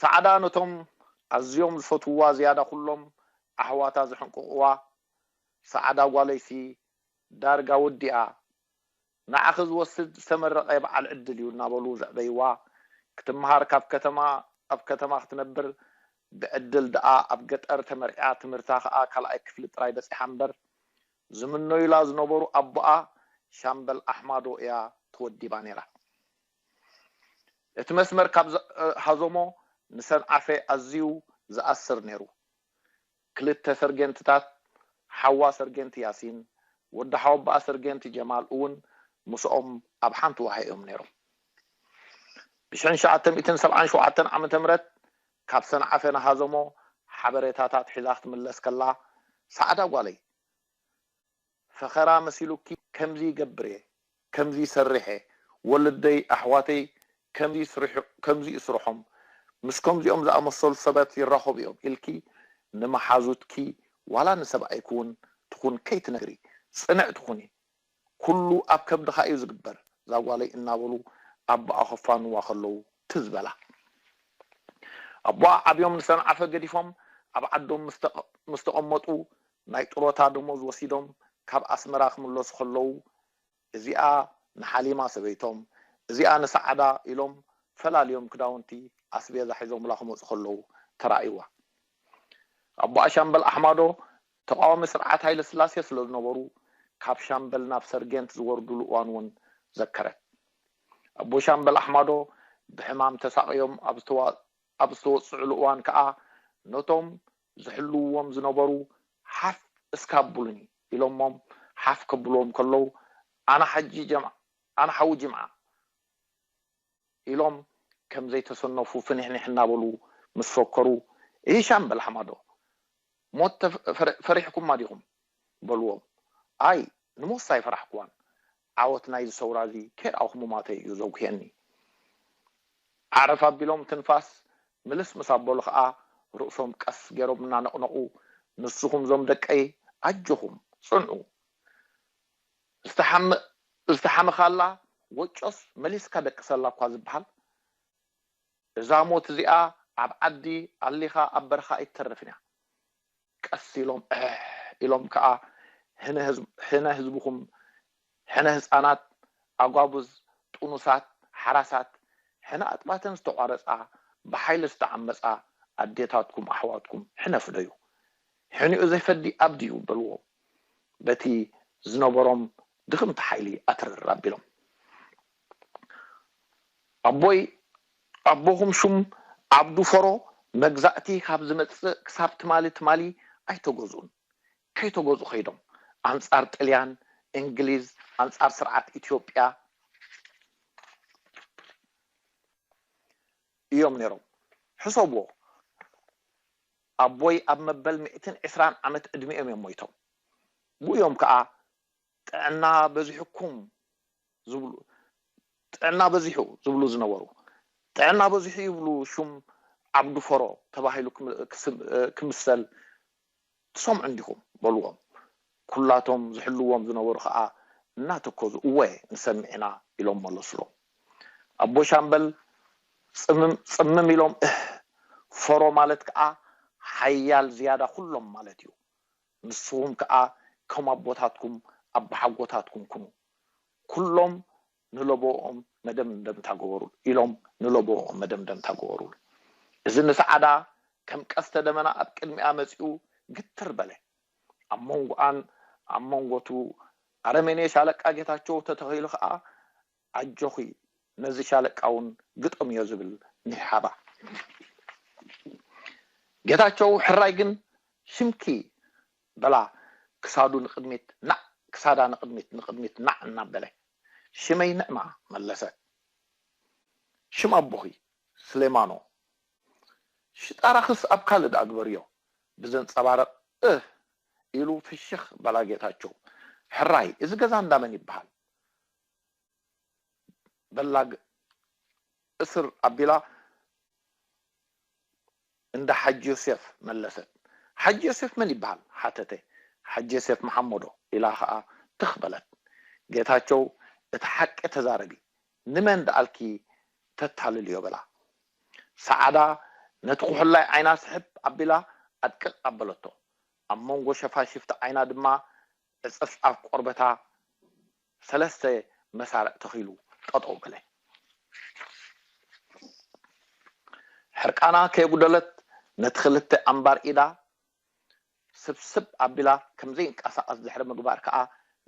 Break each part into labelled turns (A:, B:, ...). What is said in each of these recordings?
A: ሳዕዳ ነቶም ኣዝዮም ዝፈትውዋ ዝያዳ ኩሎም ኣሕዋታ ዝሕንቅቕዋ ሳዕዳ ጓለይሲ ዳርጋ ወዲኣ ንዓኺ ዝወስድ ዝተመረቐ በዓል ዕድል እዩ እናበሉ ዘዕበይዋ ክትመሃር ካብ ከተማ ኣብ ከተማ ክትነብር ብዕድል ደኣ ኣብ ገጠር ተመርዕያ ትምህርታ ከኣ ካልኣይ ክፍሊ ጥራይ በጺሓ እምበር ዝምነዩላ ዝነበሩ ኣቦኣ ሻምበል ኣሕማዶ እያ ተወዲባ ነይራ። እቲ መስመር ካብ ዝሃዞሞ ንሰንዓፈ ኣዝዩ ዝኣስር ነይሩ። ክልተ ሰርጌንትታት፣ ሓዋ ሰርጌንት ያሲን፣ ወዲ ሓወቦኣ ሰርጌንት ጀማል እውን ምስኦም ኣብ ሓንቲ ዋሃ እዮም ነይሮም። ብሽሕን ትሽዓተ ሚእትን ሰብዓን ሸውዓተን ዓመተ ምህረት ካብ ሰንዓፈ ንሃዞሞ ሓበሬታታት ሒዛ ክትምለስ ከላ፣ ሰዓዳ ጓለይ! ፈኸራ መሲሉኪ ከምዚ ይገብር እየ ከምዚ ይሰርሕ እየ ወለደይ ኣሕዋተይ ከምዚ እዩ ስርሖም ምስ ከምዚኦም ዝኣመሰሉ ሰባት ይራኸቡ እዮም ኢልኪ ንመሓዙትኪ ዋላ ንሰብኣይኪ እውን ትኹን ከይትነግሪ ፅንዕቲ ኩኒ ኩሉ ኣብ ከብድኻ እዩ ዝግበር ዛጓለይ እናበሉ ኣቦኣ ከፋንዋ ከለዉ ትዝ በላ ኣቦኣ ዓብዮም ንሰንዓፈ ገዲፎም ኣብ ዓዶም ምስ ተቐመጡ ናይ ጡሮታ ደሞዝ ወሲዶም ካብ ኣስመራ ክምለሱ ከለዉ እዚኣ ንሓሊማ ሰበይቶም እዚኣ ንሰዓዳ ኢሎም ፈላልዮም ክዳውንቲ ኣስቤዛ ሒዞምላ ክመጹ ከለዉ ተራእይዋ። ኣቦኣ ሻምበል ኣሕማዶ ተቓዋሚ ስርዓት ሃይለስላሴ ስለ ዝነበሩ ካብ ሻምበል ናብ ሰርጌንት ዝወርዱሉ እዋን እውን ዘከረት። ኣቦ ሻምበል ኣሕማዶ ብሕማም ተሳቕዮም ኣብ ዝተወጽዑሉ እዋን ከኣ ነቶም ዝሕልውዎም ዝነበሩ ሓፍ እስከ ኣብሉኒ ኢሎሞም ሓፍ ከብልዎም ከለው ኣነ ሓጂ ጀምዓ ኣነ ሓዊ ጅምዓ ኢሎም ከም ዘይተሰነፉ ፍኒሕኒሕ እናበሉ ምስ ፈከሩ እሂ ሻምበል ሓማዶ ሞት ፈሪሕኩማ ዲኹም በልዎም ኣይ ንሞትስ ኣይፈራሕኩዋን ዓወት ናይዚ ሰውራ እዚ ኬር ኣውክ ሙማተይ እዩ ዘጉህየኒ። ዓረፍ ኣቢሎም ትንፋስ ምልስ ምስ ኣበሉ ከኣ ርእሶም ቀስ ጌሮም እናነቕነቑ ንስኹም እዞም ደቀይ ኣጆኹም ጽንዑ ዝተሓመ ዝተሓመኻላ ወጮስ መሊስካ ደቅሰላ እኳ ዝበሃል እዛ ሞት እዚኣ ኣብ ዓዲ ኣሊኻ ኣብ በረኻ ኣይትተርፍን እያ ቀስ ኢሎም ዕሕ ኢሎም ከኣ ሕነ ህዝብኹም ሕነ ህጻናት ኣጓብዝ ጡኑሳት ሓራሳት ሕነ ኣጥባተን ዝተቋረጻ ብሓይሊ ዝተዓመጻ ኣዴታትኩም ኣሕዋትኩም ሕነ ፍደዩ ሕኒኡ ዘይፈዲ ኣብዲ እዩ በልዎም በቲ ዝነበሮም ድኽምቲ ሓይሊ ኣትርር ኣቢሎም ኣቦይ ኣቦኹም ሹም ዓብዱ ፈሮ መግዛእቲ ካብ ዝመጽእ ክሳብ ትማሊ ትማሊ ኣይተገዝኡን። ከይተገዝኡ ከይዶም ኣንጻር ጥልያን፣ እንግሊዝ፣ ኣንጻር ስርዓት ኢትዮጵያ እዮም ነይሮም። ሕሰብዎ ኣቦይ ኣብ መበል ሚእትን ዕስራን ዓመት ዕድሚኦም እዮም ሞይቶም። ብኡ እዮም ከኣ ጥዕና በዚሑኩም ዝብሉ ጥዕና በዚሑ ዝብሉ ዝነበሩ ጥዕና በዚሑ ይብሉ ሹም ዓብዱ ፈሮ ተባሂሉ ክምሰል ትሰምዑ እንዲኹም በልዎም ኩላቶም ዝሕልዎም ዝነበሩ ከኣ እናተከዙ እወ ንሰምዕ ኢና ኢሎም መለሱሎም ኣቦ ሻምበል ጽምም ኢሎም እህ ፈሮ ማለት ከኣ ሓያል ዝያዳ ኩሎም ማለት እዩ ንስኹም ከኣ ከም ኣቦታትኩም ኣባሓጎታትኩም ኩኑ። ኩሎም ንለበወኦም መደምደምታ ገበሩሉ ኢሎም ንለበወኦም መደምደምታ ገበሩሉ። እዚ ንሰዓዳ ከም ቀስተ ደመና ኣብ ቅድሚኣ መጺኡ ግትር በለ። ኣብ መንጎኣን ኣብ መንጎ'ቱ ኣረሜኔ ሻለቃ ጌታቸው ተተኺሉ ከኣ ኣጆኺ ነዚ ሻለቃ ውን ግጠምዮ ዝብል ኒሕሓባ። ጌታቸው ሕራይ ግን ሽምኪ በላ ክሳዱ ንቅድሚት ናዕ ክሳዳ ንቅድሚት ንቅድሚት ናዕ እናበለ ሽመይ ንዕማ መለሰ ሽም ኣቦኺ ስሌማኖ ሽጣራኽስ ኣብ ካልእ ድኣ ግበርዮ ብዘንጸባርቅ እህ ኢሉ ፍሽኽ በላ ጌታቸው ሕራይ እዚ ገዛ እንዳመን ይበሃል በላግ እስር ኣቢላ እንዳ ሓጂ ዮሴፍ መለሰት። ሓጂ ዮሴፍ መን ይበሃል? ሓተተ። ሓጂ ዮሴፍ መሓመዶ ኢላ ከኣ ትኽ በለት። ጌታቸው እቲ ሓቂ ተዛረቢ፣ ንመን ደኣልኪ ተታልልዮ በላ። ሰዓዳ ነቲ ኩሕላይ ዓይና ስሕብ ኣቢላ ኣድቅቕ ኣበለቶ። ኣብ መንጎ ሸፋሽፍቲ ዓይና ድማ ዕጽፍ ኣብ ቆርበታ ሰለስተ መሳርዕ ተኺሉ ጠጠው በለ። ሕርቃና ከየጉደለት ነቲ ክልተ ኣንባር ኢዳ ስብስብ ኣቢላ ከም ዘይንቀሳቐስ ድሕሪ ምግባር ከኣ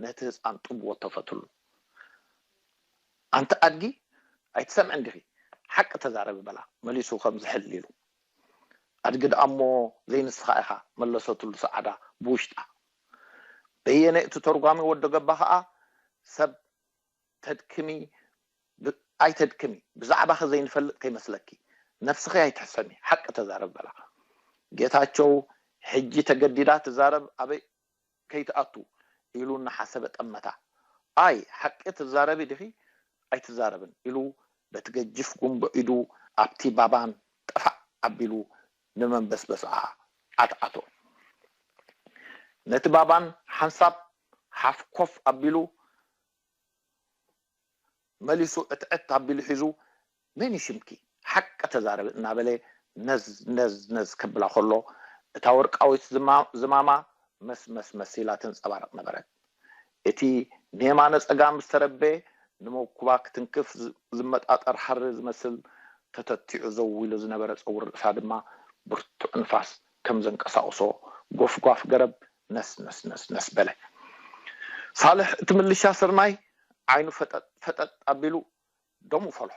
A: ነቲ ህጻን ጡብ ወተፈትሉ። ኣንቲ ኣድጊ ኣይትሰምዕን ዲኺ? ሓቂ ተዛረቢ በላ መሊሱ ከም ዝሕል ኢሉ። ኣድጊ ደኣ'ሞ ዘይንስኻ ኢኻ መለሰትሉ ሰዓዳ ብውሽጣ። በየነ እቲ ተርጓሚ ወዲ ገባ ከኣ ሰብ ተድክሚ ኣይተድክሚ ብዛዕባኺ ዘይንፈልጥ ከይመስለኪ ነብስኺ ኣይትሕሰሚ ሓቂ ተዛረቢ በላ ጌታቸው ሕጂ ተገዲዳ ትዛረብ ኣበይ ከይትኣቱ ኢሉ እናሓሰበ ጠመታ ኣይ ሓቂ ትዛረቢ ዲኺ ኣይትዛረብን ኢሉ በቲ ገጅፍ ጉምቦ ኢዱ ኣብቲ ባባን ጠፋእ ኣቢሉ ንመንበስበስኣ ዓትዓቶ። ነቲ ባባን ሓንሳብ ሓፍ ኮፍ ኣቢሉ መሊሱ ዕትዕት ኣቢሉ ሒዙ መን እዩ ሽምኪ? ሓቂ ተዛረቢ እናበለ ነዝ ነዝ ነዝ ከብላ ከሎ እታ ወርቃዊት ዝማማ መስመስመስ ኢላ ትንጸባረቕ ነበረት። እቲ ንየማነ ጸጋም ዝተረበ ንመኩባ ክትንክፍ ዝመጣጠር ሃሪ ዝመስል ተተቲዑ ዘው ኢሉ ዝነበረ ጸጉሪ ርእሳ ድማ ብርቱዕ ንፋስ ከም ዘንቀሳቕሶ ጎፍጓፍ ገረብ ነስነስነስነስ በለ። ሳልሕ እቲ ምልሻ ስርናይ ዓይኑ ፈጠጥ ፈጠጥ ኣቢሉ ደሙ ፈልሖ።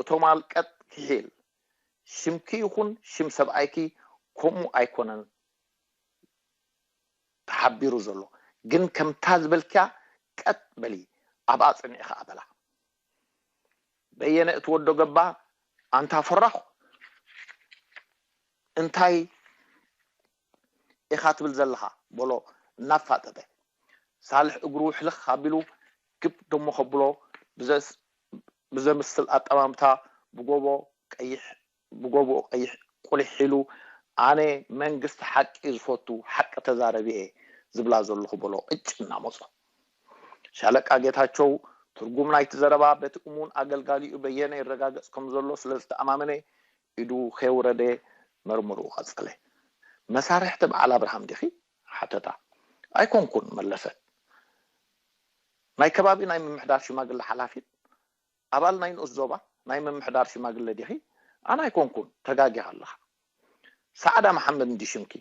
A: እቶም ኣልቀጥ ኪሒል ሽምኪ ይኹን ሽም ሰብኣይኪ ከምኡ ኣይኮነን ተሓቢሩ ዘሎ ግን ከምታ ዝበልክያ ቀጥ በሊ ኣብኣ ጽንዒ ከኣ በላ በየነ እቲ ወዶ ገባ ኣንታ ፈራኹ እንታይ ኢኻ ትብል ዘለኻ? በሎ እናፋጠጠ። ሳልሕ እግሩ ሕልኽ ኣቢሉ ግብ ደሞ ከብሎ ብዘምስል ኣጠማምታ ብጎቦ ቀይሕ ብጎቦ ቀይሕ ቁሊሕ ኢሉ ኣነ መንግስቲ ሓቂ ዝፈቱ ሓቂ ተዛረቢ እየ ዝብላ ዘለኹ በሎ ቅጭ እናመጾ። ሻለቃ ጌታቸው ትርጉም ናይቲ ዘረባ በቲ እሙን ኣገልጋሊኡ በየነ ይረጋገጽ ከም ዘሎ ስለ ዝተኣማመነ ኢዱ ከየውረደ መርምርኡ ቀጸለ። መሳርሕቲ በዓል ኣብርሃም ዲኺ? ሓተታ። ኣይኮንኩን መለሰት። ናይ ከባቢ ናይ ምምሕዳር ሽማግለ ሓላፊት? ኣባል ናይ ንኡስ ዞባ ናይ ምምሕዳር ሽማግለ ዲኺ? ኣነ ኣይኮንኩን፣ ተጋጊኻ ኣለኻ። ሰዓዳ መሓመድ እንድዩ ሽምኪ?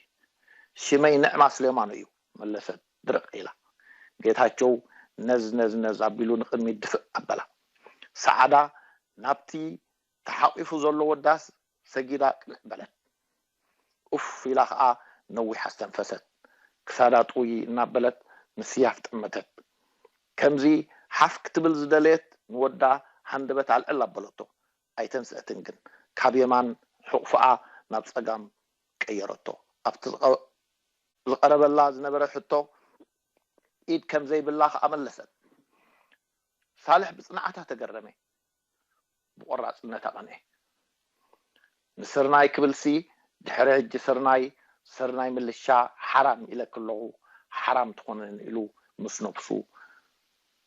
A: ሽመይ ንዕማ ስሌማኖ እዩ፣ መለሰት ድርቕ ኢላ። ጌታቸው ነዝነዝነዝ ኣቢሉ ንቕድሚት ድፍእ ኣበላ። ሰዓዳ ናብቲ ተሓቂፉ ዘሎ ወዳስ ሰጊዳ ቅንዕ በለት። ኡፍ ኢላ ከኣ ነዊሕ ኣስተንፈሰት። ክሳዳ ጥውይይ እናበለት ምስያፍ ጠመተት። ከምዚ ሓፍ ክትብል ዝደለየት ንወዳ ሃንደበት ኣልዕል ኣበለቶ። ኣይተንስአትን ግን። ካብ የማን ሑቕፎኣ ናብ ጸጋም ቀየረቶ። ኣብቲ ዝቐረበላ ዝነበረ ሕቶ ኢድ ከም ዘይብላ ከኣ መለሰት። ሳልሕ ብጽንዓታ ተገረመ። ብቆራጽነት ኣቐንዔ። ንስርናይ ክብልሲ ድሕሪ ሕጂ ስርናይ ስርናይ ምልሻ ሓራም ኢለኪ ኣለኹ ሓራም ትኾነን ኢሉ ምስ ነብሱ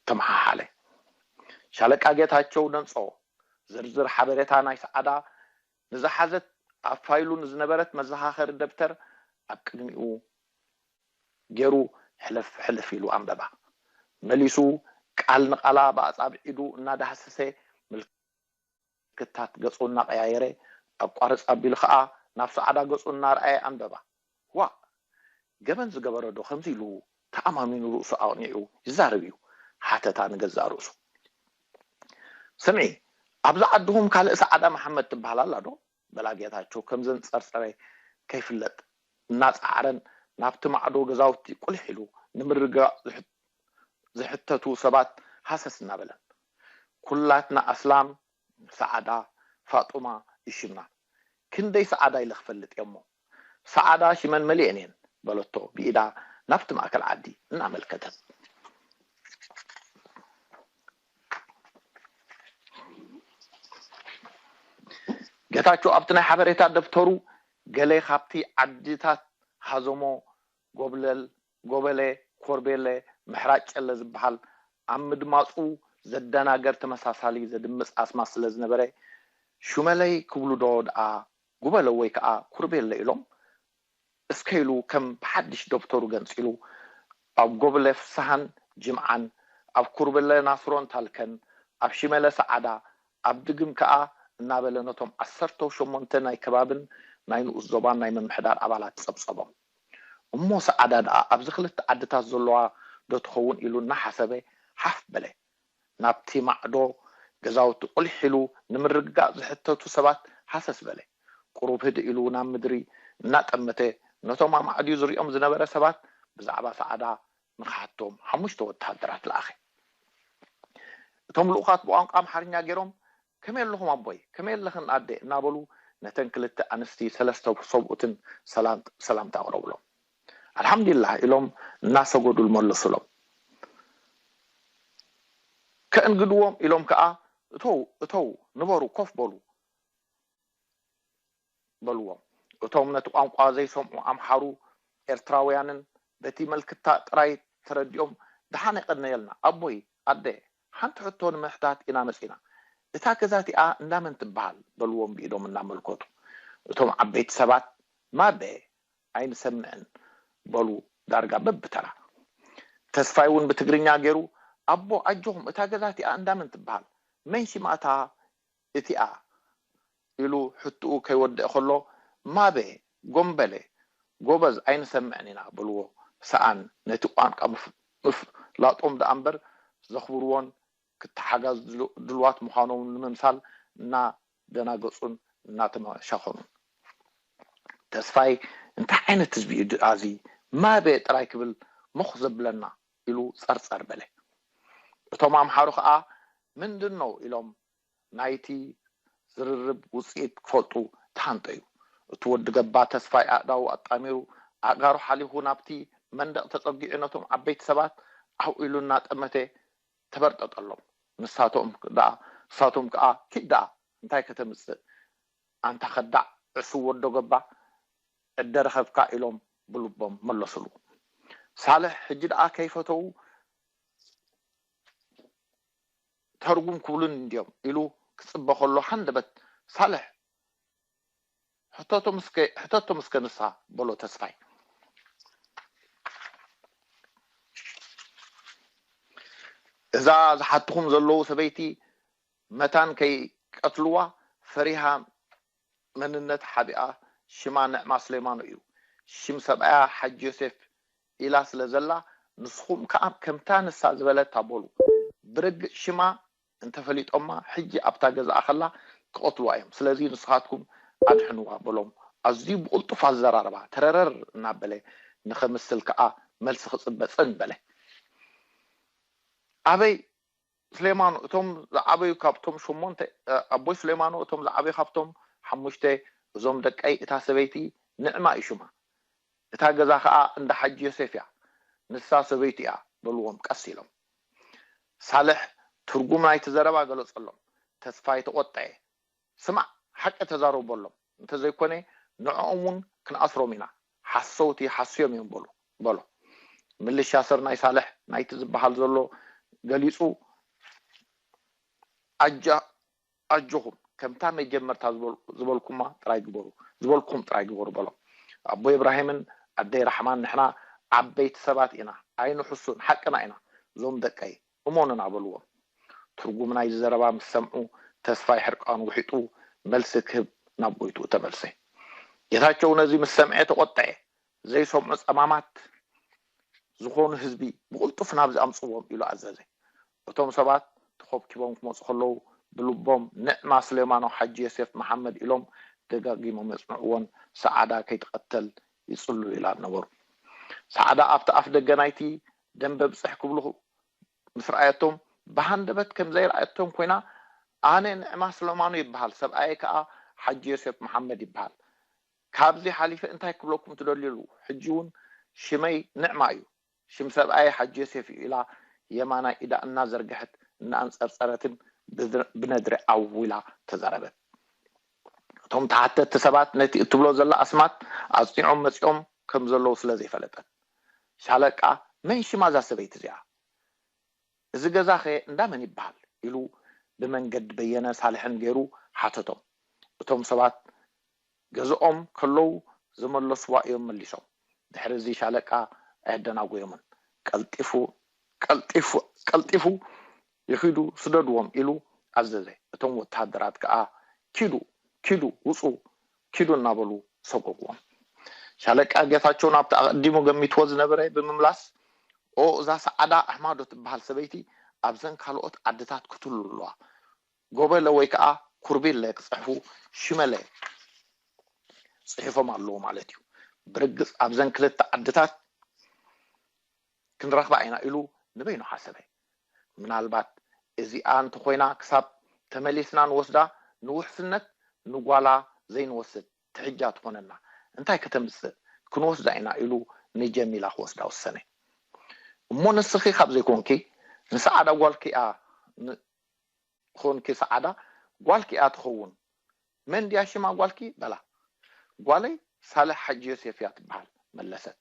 A: ተመሓሓለ። ሻለቃ ጌታቸው ነንጾ ዝርዝር ሓበሬታ ናይ ሰዓዳ ንዝሓዘት ኣብ ፋይሉ ንዝነበረት መዘኻኸሪ ደብተር ኣብ ቅድሚኡ ገይሩ ሕልፍ ሕልፍ ኢሉ ኣንበባ። መሊሱ ቃል ንቓላ ብኣጻብዕ ኢዱ እናዳህሰሰ ምልክታት ገጹ እናቐያየረ ኣቋርጽ ኣቢሉ ከኣ ናብ ሰዓዳ ገጹ እናርኣየ ኣንበባ። ዋእ ገበን ዝገበረ ዶ ከምዚ ኢሉ ተኣማሚኑ ርእሱ ኣቕኒዑ ይዛረብ እዩ ሓተታ ንገዛእ ርእሱ። ስምዒ ኣብዚ ዓድኹም ካልእ ሰዓዳ መሓመድ ትበሃል ኣላ ዶ በላ ጌታቸው ከምዘን ጸርጸረ ከይፍለጥ እናጸዓረን ናብቲ ማዕዶ ገዛውቲ ቁሊሕ ኢሉ ንምርግጋእ ዝሕተቱ ሰባት ሃሰስ እናበለን። ኩላትና ኣስላም ሰዓዳ ፋጡማ እዩ ሽማ ክንደይ ሰዓዳ ኢለ ክፈልጥ እየ'ሞ ሰዓዳ ሽመን መሊኤን እየን በለቶ ብኢዳ ናብቲ ማእከል ዓዲ እናመልከተት። ጌታቸው ኣብቲ ናይ ሓበሬታ ደብተሩ ገለ ካብቲ ዓድታት ሃዘሞ ጎብለል ጎበሌ፣ ኮርቤለ፣ ምሕራጭ ጨለ ዝበሃል ኣብ ምድማጹ ዘደናገር ተመሳሳሊ ዘድምጽ ኣስማት ስለ ዝነበረ፣ ሹመለይ ክብሉዶ ደኣ ጉበለ ወይ ከኣ ኩርቤለ ኢሎም እስከ ኢሉ ከም ብሓድሽ ደብተሩ ገንጺሉ ኣብ ጎብለ ፍስሃን ጅምዓን፣ ኣብ ኩርብለ ናስሮን ታልከን፣ ኣብ ሽመለ ሰዓዳ፣ ኣብ ድግም ከኣ እናበለ ነቶም ዓሰርተው ሸሞንተ ናይ ከባብን ናይ ንኡስ ዞባን ናይ ምምሕዳር ኣባላት ጸብጸቦም። እሞ ሰዓዳ ድኣ ኣብዚ ክልተ ዓድታት ዘሎዋ ዶ ትኸውን ኢሉ እናሓሰበ ሓፍ በለ። ናብቲ ማዕዶ ገዛውቲ ቁሊሕ ኢሉ ንምርግጋእ ዝሕተቱ ሰባት ሃሰስ በለ። ቁሩብ ህድእ ኢሉ ናብ ምድሪ እናጠመተ ነቶም ኣማዕድዩ ዝሪኦም ዝነበረ ሰባት ብዛዕባ ሰዓዳ ንኽሓቶም ሓሙሽተ ወተሃደራት ለኣኸ። እቶም ልኡኻት ብቋንቋ ኣምሓርኛ ገይሮም ከመይ ኣለኹም ኣቦይ፣ ከመይ ኣለኽን ኣደ እናበሉ ነተን ክልተ ኣንስቲ ሰለስተ ሰብኡትን ሰላምታ ኣቕረቡሎም። ኣልሓምዲላህ ኢሎም እናሰገዱ መለሱሎም። ከእንግድዎም ኢሎም ከኣ እተዉ እተዉ ንበሩ ኮፍ በሉ። በልዎም እቶም ነቲ ቋንቋ ዘይሰምዑ ኣምሓሩ ኤርትራውያንን በቲ መልክታ ጥራይ ተረዲኦም ድሓን የቀነየልና ኣቦይ ኣደ ሓንቲ ሕቶ ንምሕታት ኢና መጺና እታ ገዛ እቲኣ እንዳ መን ትብሃል በልዎም ብኢዶም እናመልከቱ እቶም ዓበይቲ ሰባት ማበ ኣይንሰምዕን በሉ ዳርጋ በብተራ ተስፋይ ውን ብትግርኛ ጌሩ ኣቦ ኣጆኹም እታ ገዛ እቲኣ እንዳ መን ትብሃል መን ሲማታ እቲኣ? ኢሉ ሕትኡ ከይወደኤ ከሎ፣ ማበ፣ ጎምበለ፣ ጎበዝ ኣይንሰምዕን ኢና በልዎ። ሰኣን ነቲ ቋንቃ ምፍ ላጦም ደኣ እምበር ዘኽብርዎን ክተሓጋዝ ድልዋት ምዃኖምን ንምምሳል እና ደናገጹን እናተመሻኸኑን። ተስፋይ እንታይ ዓይነት ህዝቢ እዩ ደኣ እዚ ማበ ጥራይ ክብል ሞኽ ዘብለና? ኢሉ ጸርጸር በለ። እቶም ኣምሓሩ ከኣ ምንድን ነው? ኢሎም ናይቲ ዝርርብ ውጽኢት ክፈልጡ ተሃንጠዩ። እቲ ወዲ ገባ ተስፋይ ኣእዳዉ ኣጣሚሩ ኣእጋሩ ሓሊኹ ናብቲ መንደቕ ተጸጊዑ ነቶም ዓበይቲ ሰባት ዓው ኢሉ እናጠመተ ተበርጠጠሎም። ንሳቶም ደኣ ንሳቶም ከኣ ኪድ ደኣ እንታይ ከተምጽእ ኣንታ ከዳዕ ዕሱብ ወዶ ገባ ዕደ ረኸብካ ኢሎም ብልቦም መለሱሉ። ሳልሕ ሕጂ ደኣ ከይፈተዉ ተርጉም ክብሉኒ እንድዮም ኢሉ ክጽበ ከሎ ሃንደበት ሳልሕ ሕተቶም እስከ ንሳ በሎ ተስፋይ። እዛ ዝሓትኹም ዘለዉ ሰበይቲ መታን ከይቀትልዋ ፈሪሃ መንነት ሓቢኣ ሽማ ንዕማ ስሌማኖ እዩ ሽም ሰብኣያ ሓጂ ዮሴፍ ኢላ ስለ ዘላ ንስኹም ከኣ ከምታ ንሳ ዝበለታ በሉ ብርግጽ ሽማ እንተፈሊጦማ ሕጂ ኣብታ ገዝኣ ከላ ክቀትልዋ እዮም ስለዚ ንስኻትኩም ኣድሕንዋ በሎም ኣዝዩ ብቅልጡፍ ኣዘራርባ ተረረር እናበለ ንኸምስል ከኣ መልሲ ክጽበ ጽን በለ ኣበይ ስሌማኖ እቶም ዝዓበዩ ካብቶም ሸሞንተ ኣቦይ ስሌማኖ እቶም ዝዓበዩ ካብቶም ሓሙሽተ እዞም ደቀይ እታ ሰበይቲ ንዕማ እዩ ሽማ እታ ገዛ ከኣ እንዳ ሓጂ ዮሴፍ እያ ንሳ ሰበይቱ እያ በልዎም ቀስ ኢሎም ሳልሕ ትርጉም ናይቲ ዘረባ ገለጸሎም ተስፋይ ተቖጠየ ስማዕ ሓቂ ተዛረቡ በሎም፣ እንተ ዘይኰነ ንዕኦም እውን ክንኣስሮም ኢና፣ ሓሰውቲ ሓስዮም እዮም በሉ፣ በሎ። ምልሻ ስርናይ ሳልሕ ናይቲ ዝበሃል ዘሎ ገሊጹ፣ ኣጃ፣ ኣጆኹም፣ ከምታ መጀመርታ ዝበል፣ ዝበልኩማ ጥራይ ግበሩ፣ ዝበልኩኹም ጥራይ ግበሩ፣ በሎም። ኣቦይ እብራሂምን ኣደይ ራሕማን ንሕና ዓበይቲ ሰባት ኢና፣ ኣይንሕሱን፣ ሓቅና ኢና፣ እዞም ደቀይ፣ እሞንና በልዎም። ትርጉም ናይዚ ዘረባ ምስ ሰምዑ ተስፋይ ሕርቃኑ ውሒጡ መልሲ ክህብ ናብ ጎይትኡ ተመልሰ። ጌታቸው ነዚ ምስ ሰምዔ ተቆጠዔ። ዘይሰምዑ ጸማማት ዝኾኑ ህዝቢ ብቕልጡፍ ናብዚ ኣምጽዎም ኢሉ ኣዘዘ። እቶም ሰባት ተኾብኪቦም ክመጹ ከለዉ ብልቦም ንዕማ ስሌማኖ ሓጂ የሴፍ መሓመድ ኢሎም ደጋጊሞም የጽንዕዎን ሰዓዳ ከይትቐተል ይጽልሉላን ነበሩ። ሰዓዳ ኣብቲ ኣፍደገ ናይቲ ደምበ ብጽሕ ክብሉ ምስ ረኣየቶም፣ ብሃንደበት ከም ዘይረኣየቶም ኰይና፣ ኣነ ንዕማ ስለማኖ ይብሃል፣ ሰብኣየይ ከኣ ሓጂ ዮሴፍ መሓመድ ይብሃል። ካብዚ ሓሊፈ እንታይ ክብለኩም ትደልዩ ኣሉ። ሕጂ'ውን ሽመይ ንዕማ እዩ፣ ሽም ሰብኣየይ ሓጂ ዮሴፍ እዩ ኢላ የማናይ ኢዳ እናዘርግሐት፣ እናኣንጸርጸረትን ብነድሪ ዓው ኢላ ተዛረበት። እቶም ተሓተቲ ሰባት ነቲ እትብሎ ዘላ ኣስማት ኣጽኒዖም መጺኦም ከም ዘለዉ ስለ ዘይፈለጠት። ሻለቃ መን ሽማ እዛ ሰበይቲ እዚኣ? እዚ ገዛኸ እንዳ መን ይብሃል? ኢሉ ብመንገዲ በየነ ሳልሕን ገይሩ ሓተቶም። እቶም ሰባት ገዝኦም ከለዉ ዝመለስዋ እዮም መሊሶም። ድሕሪ እዚ ሻለቃ ኣየደናጎዮምን። ቀልጢፉ ቀልጢፉ ቀልጢፉ ይኺዱ ስደድዎም ኢሉ ኣዘዘ። እቶም ወተሃደራት ከኣ ኪዱ ኪዱ ውጹ ኪዱ እናበሉ ሰጎግዎም። ሻለቃ ጌታቸው ናብቲ ኣቐዲሙ ገሚትዎ ዝነበረ ብምምላስ ኦእ እዛ ሰዓዳ ኣሕማዶ ትበሃል ሰበይቲ ኣብዘን ካልኦት ዓድታት ክትህሉ ኣለዋ ጎበለ ወይ ከኣ ኩርቢለ ክጽሕፉ ሽመለ ጽሒፎም ኣለዉ ማለት እዩ ብርግጽ ኣብዘን ክልተ ዓድታት ክንረኽባ ኢና ኢሉ ንበይኑ ሓሰበ። ምናልባት እዚኣ እንተኾይና ክሳብ ተመሊስና ንወስዳ ንውሕስነት ንጓላ ዘይንወስድ ትሕጃ ትኾነና እንታይ ከተምጽእ ክንወስዳ ኢና ኢሉ ንጀሚላ ክወስዳ ወሰነ እሞ ንስኺ ካብ ዘይኮንኪ ንሰዓዳ ጓልኪ'ያ ን ትኾንኪ ሰዓዳ ጓልኪ እያ ትኸውን መን ድያ ሽማ ጓልኪ በላ ጓለይ ሳልሕ ሓጂ ዮሴፍ እያ ትበሃል መለሰት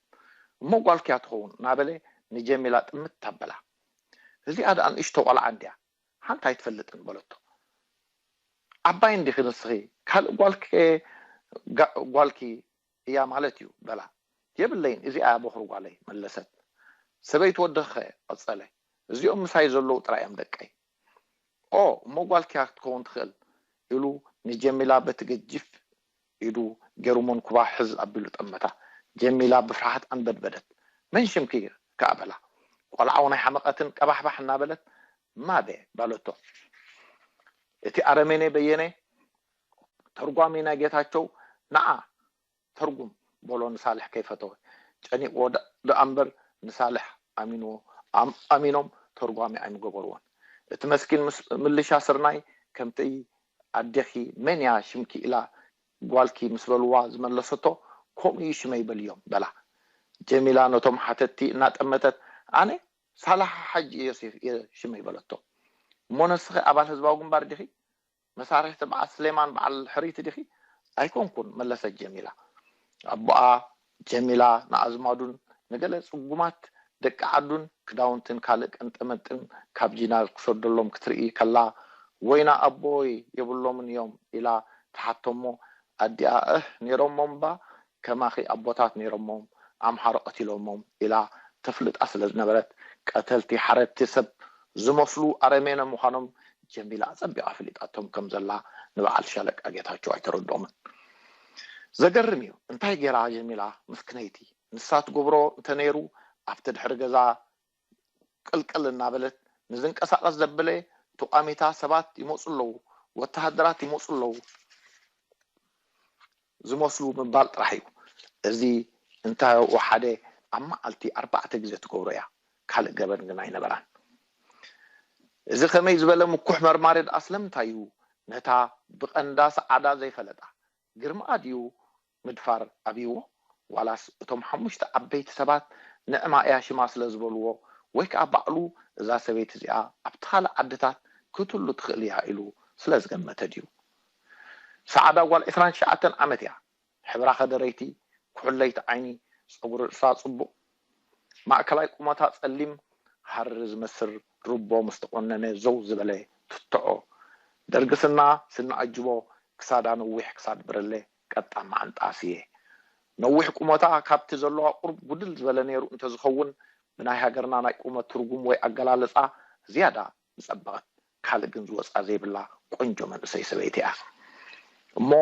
A: እሞ ጓልኪ እያ ትኸውን ናበለ ንጀሚላ ጥምት ኣበላ እዚኣ ድኣ ንእሽቶ ቖልዓ እንድያ ሓንቲ ኣይትፈልጥን በለቶ ዓባይ እንዲኺ ንስኺ ካልእ ጓልኪ ከ ጓልኪ እያ ማለት እዩ በላ። የብለይን እዚኣ'ያ ቦኽሪ ጓለይ መለሰት። ሰበይቲ ወድኺ'ኸ? ቐጸለ። እዚኦም ምሳይ ዘለዉ ጥራይ'ዮም ደቀይ። ኦ! እሞ ጓልኪ'ያ ክትከውን ትኽእል ኢሉ ንጀሚላ በቲ ገጂፍ ኢዱ ጌሩ መንኩባ ሕዝ ኣቢሉ ጠመታ። ጀሚላ ብፍርሃት ኣንበድበደት። መን ሽምኪ ከኣ በላ። ቈልዓ'ውን ኣይሓመቐትን ቀባሕባሕ እናበለት ማቤ በለቶ። እቲ ኣረሜኔ በየነ ተርጓሚ ናይ ጌታቸው ንዓ ተርጉም በሎ ንሳልሕ ከይፈተወ ጨኒቅዎ ድኣ እምበር ንሳልሕ ኣሚንዎ ኣሚኖም ተርጓሚ ኣይምገበርዎን እቲ መስኪን ምልሻ ስርናይ ከምቲ ኣዴኪ መን እያ ሽምኪ ኢላ ጓልኪ ምስ በልዋ ዝመለሰቶ ከምኡ እዩ ሽመይ በልዮም በላ ጀሚላ ነቶም ሓተትቲ እናጠመተት ኣነ ሳልሕ ሓጂ ዮሴፍ እየ ሽመይ በለቶ እሞ ነስኪ ኣባል ህዝባዊ ግንባር ዲኪ መሳርሒ ትብዓት ስሌማን በዓል ሕርይቲ ዲኺ? ኣይኮንኩን መለሰት ጀሚላ። ኣቦኣ ጀሚላ ንኣዝማዱን ንገለ ጽጉማት ደቂ ዓዱን ክዳውንትን ካልእ ቀንጠመንጥን ካብ ጂናዝ ክሰደሎም ክትርኢ ከላ ወይና ኣቦይ የብሎምን እዮም ኢላ ትሓቶ'ሞ ኣዲኣ እህ ኔሮሞ'ባ ከማኺ ኣቦታት ነይሮሞም ኣምሓሩ ቀቲሎሞም ኢላ ተፍልጣ ስለ ዝነበረት ቀተልቲ ሓረድቲ ሰብ ዝመስሉ ኣረሜነ ምዃኖም ጀሚላ ኣጸቢቓ ኣፍሊጣቶም ከም ዘላ ንበዓል ሻለቃ ጌታቸው ኣይተረድኦምን። ዘገርም እዩ እንታይ ጌራ ጀሚላ ምስክነይቲ ንሳ ትገብሮ እንተ ነይሩ ኣብቲ ድሕሪ ገዛ ቅልቅል እናበለት ንዝንቀሳቐስ ዘበለ ተቋሚታ ሰባት ይመፁ ኣለዉ፣ ወተሃደራት ይመፁ ኣለዉ ዝመስሉ ምባል ጥራሕ እዩ። እዚ እንታይ ወሓደ ኣብ መዓልቲ ኣርባዕተ ግዜ ትገብሮ እያ፣ ካልእ ገበን ግን ኣይነበራን። እዚ ከመይ ዝበለ ምኩሕ መርማሪ ደኣ ስለምንታይ እዩ ነታ ብቐንዳ ሰዓዳ ዘይፈለጣ? ግርምኣ ድዩ ምድፋር ኣብይዎ ዋላስ እቶም ሓሙሽተ ዓበይቲ ሰባት ንዕማ እያ ሽማ ስለ ዝበልዎ ወይ ከኣ ባዕሉ እዛ ሰበይቲ እዚኣ ኣብቲ ካልእ ዓድታት ክትህሉ ትኽእል እያ ኢሉ ስለ ዝገመተ ድዩ ሰዓዳ ጓል ዕስራን ትሽዓተን ዓመት እያ ሕብራ ከደረይቲ ኩሕለይቲ ዓይኒ ጸጉሪ ርእሳ ጽቡቕ ማእከላይ ቁመታ ጸሊም ሃሪ ዝመስል ሩቦ ምስ ተቖነነ ዘው ዝበለ ቱትዖ፣ ደርግስና፣ ስኒ ኣጅቦ፣ ክሳዳ ነዊሕ ክሳድ ብርለ፣ ቀጣን መዓንጣ ስየ። ነዊሕ ቁመታ ካብቲ ዘለዋ ቁሩብ ጉድል ዝበለ ነይሩ እንተዝኸውን ብናይ ሃገርና ናይ ቁመት ትርጉም ወይ ኣገላልጻ ዝያዳ ምጸበቐት። ካልእ ግን ዝወጻ ዘይብላ ቆንጆ መንእሰይ ሰበይቲ እያ። እሞ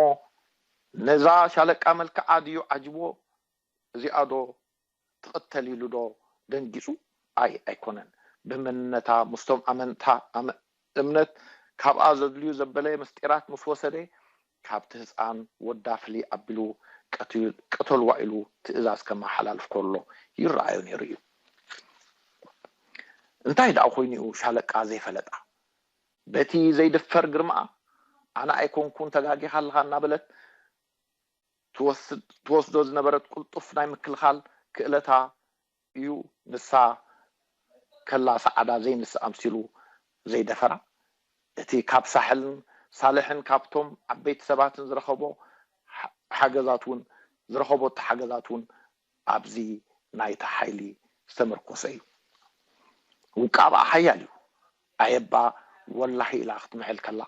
A: ነዛ ሻለቃ መልክዓ ድዩ ዓጅቦ እዚኣ ዶ ትቅተል ኢሉ ዶ ደንጊጹ ኣይ ኣይኮነን ብመንነታ ምስቶም ኣመንታ ኣመ እምነት ካብኣ ዘድልዩ ዘበለ ምስጢራት ምስ ወሰደ ካብቲ ህጻን ወዳ ፍልይ ኣቢሉ ቀትዩ ቅተልዋ ኢሉ ትእዛዝ ከመሓላልፍ ከሎ ይረኣዮ ኔሩ እዩ እንታይ ደኣ ኮይኑ እዩ ሻለቃ ዘይፈለጣ በቲ ዘይድፈር ግርማኣ ኣነ ኣይኮንኩን ተጋጊኻ ኣለኻ እናበለት ትወስድ ትወስዶ ዝነበረት ቅልጡፍ ናይ ምክልኻል ክእለታ እዩ ንሳ ከላ ሰዓዳ ዘይንስ ኣምሲሉ ዘይደፈራ እቲ ካብ ሳሕልን ሳልሕን ካብቶም ዓበይቲ ሰባትን ዝረኸቦ ሓገዛት ውን ዝረኸቦቶ ሓገዛት ውን ኣብዚ ናይታ ሓይሊ ዝተመርኮሰ እዩ ውቃብኣ ሓያል እዩ ኣየባ ወላሂ ኢላ ክትምሕል ከላ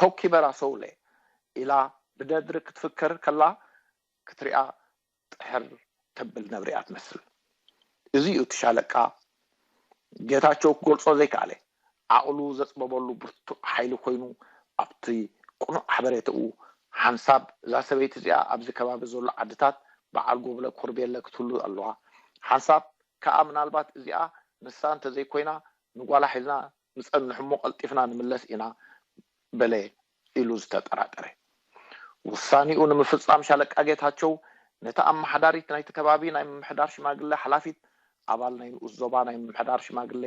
A: ቶኪ በራ ሰውለ ኢላ ብደድሪ ክትፍክር ከላ ክትሪኣ ጥሕር ተብል ነብሪ እያ ትመስል እዚ እዩ እቲ ሻለቃ ጌታቸው ክገልጾ ዘይከኣለ ዓቕሉ ዘጽበበሉ ብርቱዕ ሓይሊ ኮይኑ ኣብቲ ቅኑዕ ሓበሬታኡ ሓንሳብ እዛ ሰበይቲ እዚኣ ኣብዚ ከባቢ ዘሎ ዓድታት በዓል ጎብለ ኮርቤለ ክትህሉ ኣለዋ ሓንሳብ ከኣ ምናልባት እዚኣ ንሳ እንተዘይኮይና ንጓላ ሒዝና ንጸንሕ'ሞ ቀልጢፍና ንምለስ ኢና በለ ኢሉ ዝተጠራጠረ ውሳኔኡ ንምፍጻም ሻለቃ ጌታቸው ነታ ኣመሓዳሪት ናይቲ ከባቢ ናይ ምምሕዳር ሽማግሌ ሓላፊት ኣባል ናይ ንኡስ ዞባ ናይ ምምሕዳር ሽማግሌ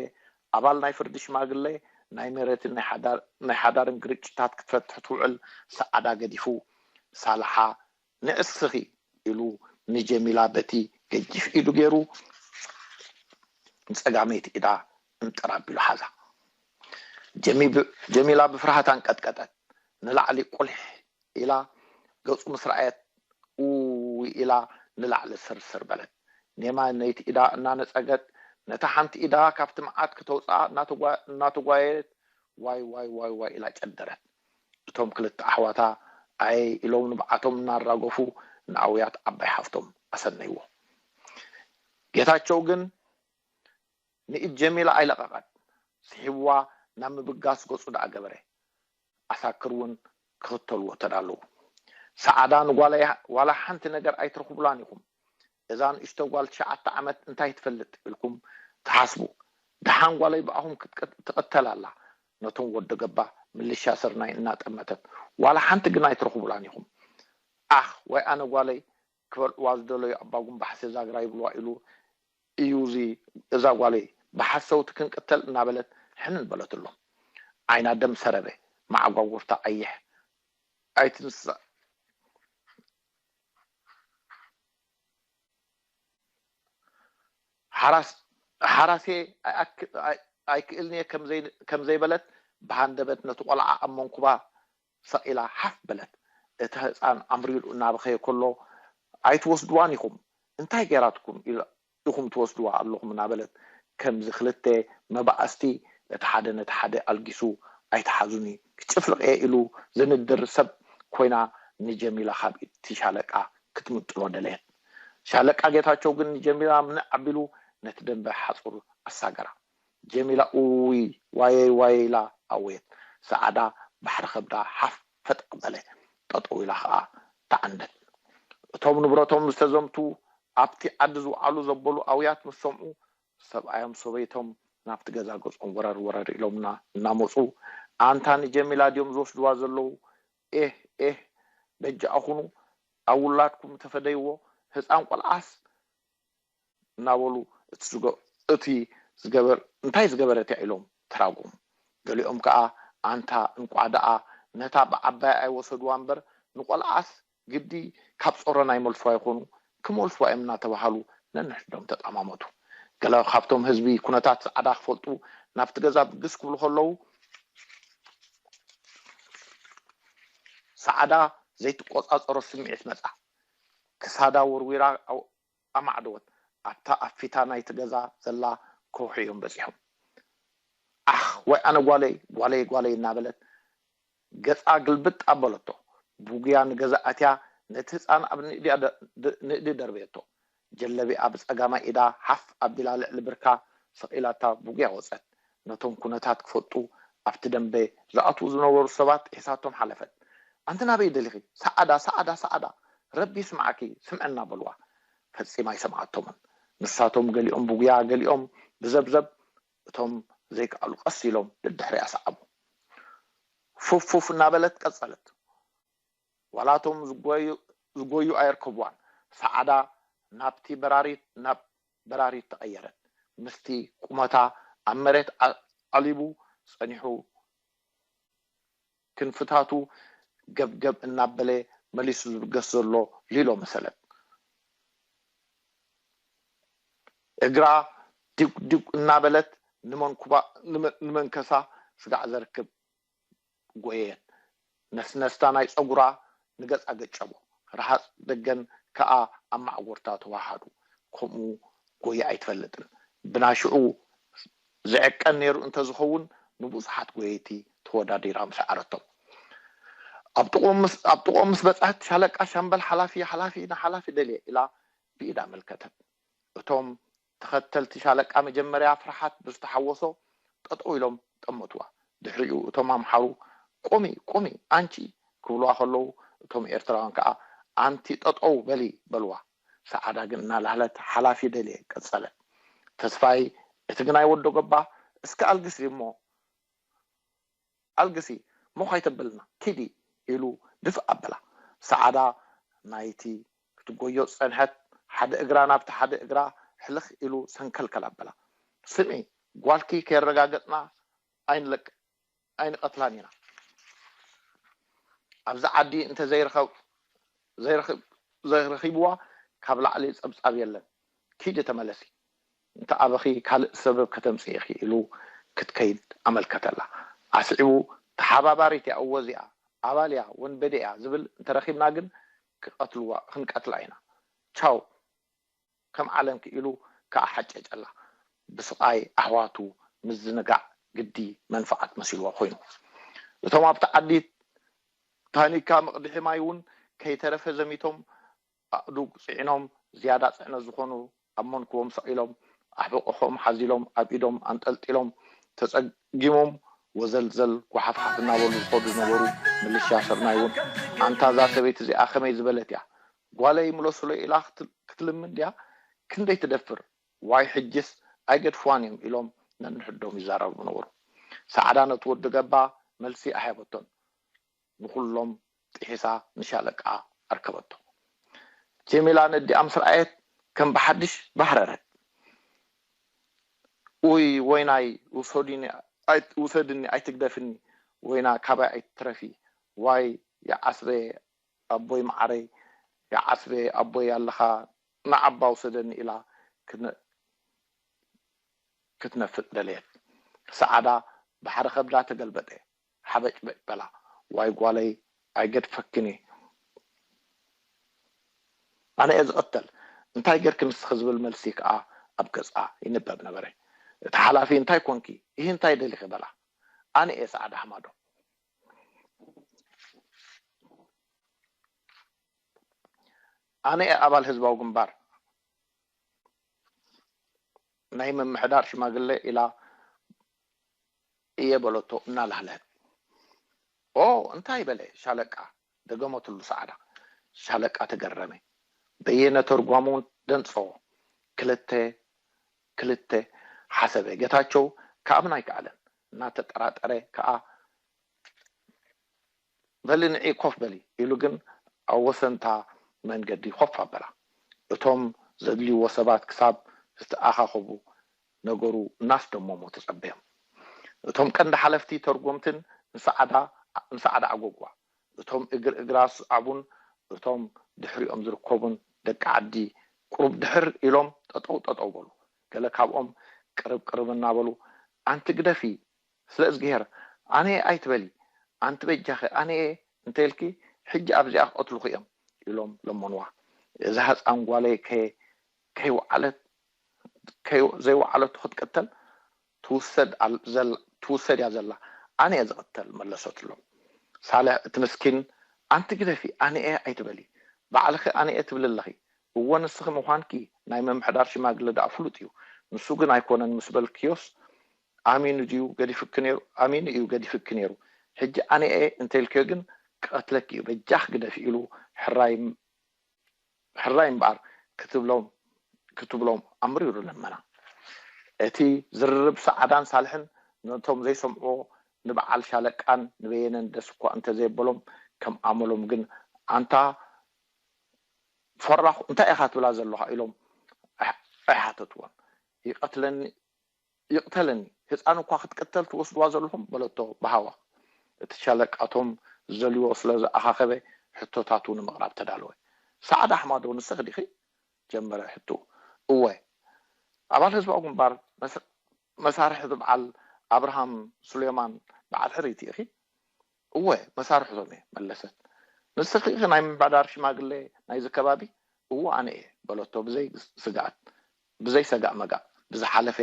A: ኣባል ናይ ፍርዲ ሽማግሌ ናይ መሬትን ናይ ሓዳርን ግርጭታት ክትፈትሕ ትውዕል ሰዓዳ ገዲፉ ሳልሓ ንእስኺ ኢሉ ንጀሚላ በቲ ገጂፍ ኢዱ ገይሩ ንጸጋመይቲ ኢዳ እንጥር ኣቢሉ ሓዛ። ጀሚላ ብፍርሃት ኣንቀጥቀጠት። ንላዕሊ ቁሊሕ ኢላ ገጹ ምስ ረኣየት ኡይ ኢላ ንላዕሊ ስርስር በለት። ኔማ ነይቲ ኢዳ እናነጸገት ነታ ሓንቲ ኢዳ ካብቲ መዓት ክተውጽኣ እናተጓየየት ዋይዋይዋይዋይ ኢላ ጨደረት። እቶም ክልተ ኣሕዋታ ኣየ ኢሎም ንብዓቶም እናራገፉ ንኣውያት ዓባይ ሓፍቶም ኣሰነይዎ። ጌታቸው ግን ንኢድ ጀሚላ ኣይለቐቐን። ስሒብዋ ናብ ምብጋስ ገፁ ደኣ ገበረ። ዓሳክር እውን ክኽተልዎ ተዳለዉ። ሰዓዳ ንጓለይ ዋላ ሓንቲ ነገር ኣይትረኽቡላን ኢኹም፣ እዛ ንእሽቶ ጓል ትሽዓተ ዓመት እንታይ ትፈልጥ ኢልኩም ትሓስቡ ደሓን ጓለይ ብኣኹም ትቅተል ኣላ ነቶም ወዶ ገባ ምልሻ ስርናይ እናጠመተት ዋላ ሓንቲ ግን ኣይትረኽቡላን ኢኹም ዓኽ ዋይ ኣነ ጓለይ ክበልዕዋ ዝደለዩ ኣባጉም ባሕሲ ዛግራ ይብልዋ ኢሉ እዩ እዚ እዛ ጓለይ ብሓሰውቲ ክንቅተል እናበለት ሕንን በለትሎም ዓይና ደም ሰረበ መዓጓጉርታ ቀይሕ ኣይትንሳእ ሓራሴ ኣይክእልን'የ ከም ዘይበለት ብሃንደበት ነቲ ቈልዓ ኣብ መንኵባ ሰቒላ ሓፍ በለት። እቲ ህጻን ኣምሪሩ እናበኸየ ከሎ ኣይትወስድዋን ኢኹም እንታይ ገይራትኩም? ኢኹም ትወስድዋ ኣለኹም እናበለት ከምዚ ክልተ መባኣስቲ ነቲ ሓደ ነቲ ሓደ ኣልጊሱ ኣይትሓዙኒ ክጭፍልቕ እየ ኢሉ ዝንድር ሰብ ኮይና ንጀሚላ ካብ ኢድ'ቲ ሻለቃ ክትምጥሎ ደለየት። ሻለቃ ጌታቸው ግን ንጀሚላ ምንዕ ኣቢሉ ነቲ ደምበ ሓጹር ኣሳገራ። ጀሚላ እውይ ዋየይ ዋየይ ኢላ ኣወየት። ሰዓዳ ባሕሪ ከብዳ ሓፍ ፈጠቕ በለ፣ ጠጠው ኢላ ኸኣ ተዓንደት። እቶም ንብረቶም ዝተዘምቱ ኣብቲ ዓዲ ዝውዓሉ ዘበሉ ኣውያት ምስ ሰምዑ፣ ሰብኣዮም ሰበይቶም ናብቲ ገዛ ገጾም ወረር ወረር ኢሎምና እናመጹ፣ ኣንታ ንጀሚላ ድዮም ዝወስድዋ ዘለዉ፣ ኤህ ኤህ በጃኹኑ ኣብ ውላድኩም ተፈደይዎ፣ ህጻን ቆልዓስ እናበሉ እቲ ዝገበር እንታይ ዝገበረት እያ ኢሎም ተራጎሙ። ገሊኦም ከኣ ኣንታ እንቋዕ ደኣ ነታ ብዓባያ ኣይወሰዱዋ እምበር ንቆልዓስ ግዲ ካብ ጾሮና ይመልሱዋ ይኾኑ ክመልሱዋ እዮም እናተባሃሉ ነንሕድሕዶም ተጣማመቱ። ገለ ካብቶም ህዝቢ ኩነታት ጸዓዳ ክፈልጡ ናብቲ ገዛ ብግስ ክብሉ ከለዉ ጸዓዳ ዘይትቆጻጸሮ ስምዒት መጻ። ክሳዳ ወርዊራ ኣማዕደወት። ኣብታ ኣብ ፊታ ናይቲ ገዛ ዘላ ከውሒ እዮም በጺሖም። ዓኽ! ወይ ኣነ ጓለይ! ጓለይ! ጓለይ! እናበለት ገጻ ግልብጥ ኣበለቶ። ብጉያ ንገዛ ኣትያ ነቲ ህጻን ኣብ ንእዲ ደርበየቶ። ጀለቢኣ ብጸጋማይ ኢዳ ሓፍ ኣቢላ ልዕሊ ብርካ ሰቒላታ ብጉያ ወጸት። ነቶም ኩነታት ክፈልጡ ኣብቲ ደምበ ዝኣትዉ ዝነበሩ ሰባት ሒዛቶም ሓለፈት። ኣንቲ ናበይ ደሊኺ? ሰዓዳ! ሰዓዳ! ሰዓዳ! ረቢ ይስምዓኪ! ስምዕና! በልዋ። ፈጺማ ኣይሰምዓቶምን። ንሳቶም ገሊኦም ብጉያ ገሊኦም ብዘብዘብ እቶም ዘይከኣሉ ቀስ ኢሎም ደድሕሪኣ ሰዓቡ። ፉፍ ፉፍ እናበለት ቀጸለት። ዋላ እቶም ዝጎዩ ኣየርከብዋን ሰዓዳ ናብቲ በራሪት ናብ በራሪት ተቀየረት ምስቲ ቁመታ ኣብ መሬት ኣዕሊቡ ጸኒሑ ክንፍታቱ ገብገብ እናበለ መሊሱ ዝብገስ ዘሎ ሊሎ መሰለት እግራ ዲጉዲግ እናበለት ንመንኩባ ንመንከሳ ስጋዕ ዘርክብ ጎየየን ነስነስታ ናይ ጸጉራ ንገጻ ገጨቦ ረሃጽ ደገን ከኣ ኣብ ማዕጎርታ ተዋሃሃዱ ከምኡ ጎየ ኣይትፈልጥን ብናይሽዑ ዝዕቀን ነይሩ እንተዝኸውን ንብዙሓት ጎየይቲ ተወዳዲራ ምሰዓረቶም ኣብ ጥቕኦም ምስ በጽሐት ሻለቃ ሻምበል ሓላፊ ሓላፊ ንሓላፊ ደልየ ኢላ ብኢድ ኣመልከተት እቶም ተኸተልቲ ሻለቃ መጀመርያ ፍርሓት ብዝተሓወሶ ጠጠው ኢሎም ጠመቱዋ። ድሕሪኡ እቶም ኣምሓሩ ቁሚ! ቁሚ! ኣንቺ! ክብሉዋ ከለው እቶም ኤርትራውያን ከኣ ኣንቲ ጠጠው በሊ! በሉዋ። ሰዓዳ ግን እናላህለት ሓላፊ ደልየ ቀጸለ። ተስፋይ እቲ ግናይ ወዶ ገባ እስከ ኣልግስ ድዩሞ? ኣልግሲ ሞኽ ኣይተብልና ኪዲ ኢሉ ድፍእ ኣበላ። ሰዓዳ ናይቲ ክትጎዮ ዝጸንሐት ሓደ እግራ ናብቲ ሓደ እግራ ሕልኽ ኢሉ ሰንከልከል ኣበላ። ስምዒ ጓልኪ ከየረጋገጽና ኣይንለቅን ኣይንቐትላን ኢና። ኣብዚ ዓዲ እንተ ዘይረኺብዋ ካብ ላዕሊ ጸብጻብ የለን። ኪዲ ተመለሲ። እንተ ኣበኺ ካልእ ሰበብ ከተምጽኢ ኢኺ ኢሉ ክትከይድ ኣመልከተላ። ኣስዒቡ ተሓባባሪት እያ እወ እዚኣ ኣባል እያ ወንበዴ እያ ዝብል እንተ ረኺብና ግን ክቀትልዋ ክንቀትላ ኢና ቻው ከም ዓለምኪ ኢሉ ክኣ ሓጨጨላ። ብስቓይ ኣሕዋቱ ምዝንጋዕ ግዲ መንፍዓት መሲልዋ ኮይኑ። እቶም ኣብቲ ዓዲ ታኒካ መቕድሒ ማይ እውን ከይተረፈ ዘሚቶም ኣእዱግ ጽዒኖም ዝያዳ ጽዕነት ዝኾኑ ኣብ መንኩቦም ሰቒሎም፣ ኣሕብቕሖም ሓዚሎም ኣብ ኢዶም ኣንጠልጢሎም፣ ተጸጊሞም ወዘልዘል ጓሓፍሓፍ እናበሉ ዝኸዱ ዝነበሩ ምልሻ ስርናይ'ውን፣ ኣንታ እዛ ሰበይቲ እዚኣ ከመይ ዝበለት እያ? ጓለይ ምለሱለይ ኢላ ክትልምን ድያ ክንደይ ትደፍር? ዋይ ሕጂስ ኣይገድፍዋን እዮም ኢሎም ነንሕዶም ይዛረቡ ነበሩ። ሰዓዳ ነቲ ወዲ ገባ መልሲ ኣይሃበቶን። ንኹሎም ጥሒሳ ንሻለቃ ኣርከበቶ። ጀሚላ ነዲኣ ምስ ረኣየት ከም ብሓድሽ ባህረረት። ኡይ ወይናይ ውሰድኒ ኣይትግደፍኒ ወይና ካባይ ኣይትትረፊ ዋይ ይዓስበ ኣቦይ መዓረይ ይዓስበ ኣቦይ ኣለኻ ንዓባ ውሰደኒ ኢላ ክትነፍጥ ደለየት። ሰዓዳ ባሕሪ ከብዳ ተገልበጠ። ሓበጭበጭ በላ ዋይ ጓለይ ኣይገድፈክን እየ ኣነ እየ ዝቅተል እንታይ ገርኪ ንስኪ ዝብል መልሲ ከኣ ኣብ ገጻ ይንበብ ነበረ እቲ ሓላፊ እንታይ ኮንኪ እሂ እንታይ ደሊኪ በላ ኣነ እየ ጻዕዳ ሃማዶ ኣነ እየ ኣባል ህዝባዊ ግንባር። ናይ ምምሕዳር ሽማግለ ኢላ እየ በለቶ እናላህለሀ። ኦ እንታይ በለ ሻለቃ? ደገመትሉ ሰዓዳ። ሻለቃ ተገረመ። በየነ ተርጓሙ ደንጸዎ። ክልተ ክልተ ሓሰበ። ገታቸው ክኣምን ኣይከኣለን። እናተጠራጠረ ከኣ። በሊ ንዒ ኮፍ በሊ ኢሉ ግን ኣብ ወሰን'ታ መንገዲ ኮፍ ኣበላ። እቶም ዘድልይዎ ሰባት ክሳብ ዝተኣኻኸቡ ነገሩ እናስደመሙ ተጸበዮም። እቶም ቀንዲ ሓለፍቲ ተርጎምትን ንሰዓዳ ንሰዓዳ ኣጎጓ፣ እቶም እግር እግራ ዝስዓቡን እቶም ድሕሪኦም ዝርከቡን ደቂ ዓዲ ቁሩብ ድሕር ኢሎም ጠጠው ጠጠው በሉ። ገለ ካብኦም ቅርብ ቅርብ እናበሉ ኣንቲ ግደፊ ስለ እዝግሄር ኣነየ ኣይትበሊ ኣንቲ በጃኺ ኣነየ እንተኢልኪ ሕጂ ኣብዚኣ ክቐትሉኺ እዮም ኢሎም ለመኑዋ እዛ ህጻን ጓለይ ከይ ከይወዓለት ከይ ዘይወዓለቶ ክትቅተል ትውሰድ ኣል ዘላ ትውሰድ እያ ዘላ ኣነየ ዝቕተል መለሰትሎም ሳልሕ እቲ ምስኪን ኣንቲ ግደፊ ኣነየ ኣይትበሊ ባዕልኺ ኣነየ ትብሊ ኣለኺ እወ ንስኺ ምዃንኪ ናይ ምምሕዳር ሽማግለ ደኣ ፍሉጥ እዩ ንሱ ግን ኣይኮነን ምስ በልክዮስ ኣሚኑ ድዩ ገዲፉኪ ነይሩ? ኣሚኑ እዩ ገዲፉኪ ነይሩ ሕጂ ኣነ'የ እንተኢልክዮ ግን ክቀትለኪ እዩ በጃኺ ግደፊ ኢሉ ሕራይ ሕራይ እምበኣር ክትብሎም ክትብሎም ኣምሪሩ ለመና። እቲ ዝርርብ ሰዓዳን ሳልሕን ነቶም ዘይሰምዕዎ ንበዓል ሻለቃን ንበየነን ደስ እኳ እንተዘየበሎም ከም ኣመሎም ግን ኣንታ ፈራኹ እንታይ ኢኻ ትብላ ዘለኻ ኢሎም ኣይሓተትዎን። ይቀትለኒ ይቕተለኒ ህጻን እኳ ክትቅተል ትወስድዋ ዘለኹም በለቶ ብሃዋኽ። እቲ ሻለቃ እቶም ዝደልይዎ ስለ ዝኣኻኸበ ሕቶታቱ ንምቕራብ ተዳለወ። ሰዓድ ኣሕማዶ ንስኺ ዲኺ? ጀመረ ሕትኡ። እወ። ኣባል ህዝባዊ ግንባር መሳርሕቲ በዓል ኣብርሃም ሱሌማን በዓል ሕርይቲ ኢኺ? እወ መሳርሕቶም እየ መለሰት። ንስኺ ኢኺ ናይ ምምሕዳር ሽማግሌ ናይዚ ከባቢ? እወ ኣነ እየ በለቶ ብዘይ ስግኣት። ብዘይ ሰጋእ መጋእ ብዝሓለፈ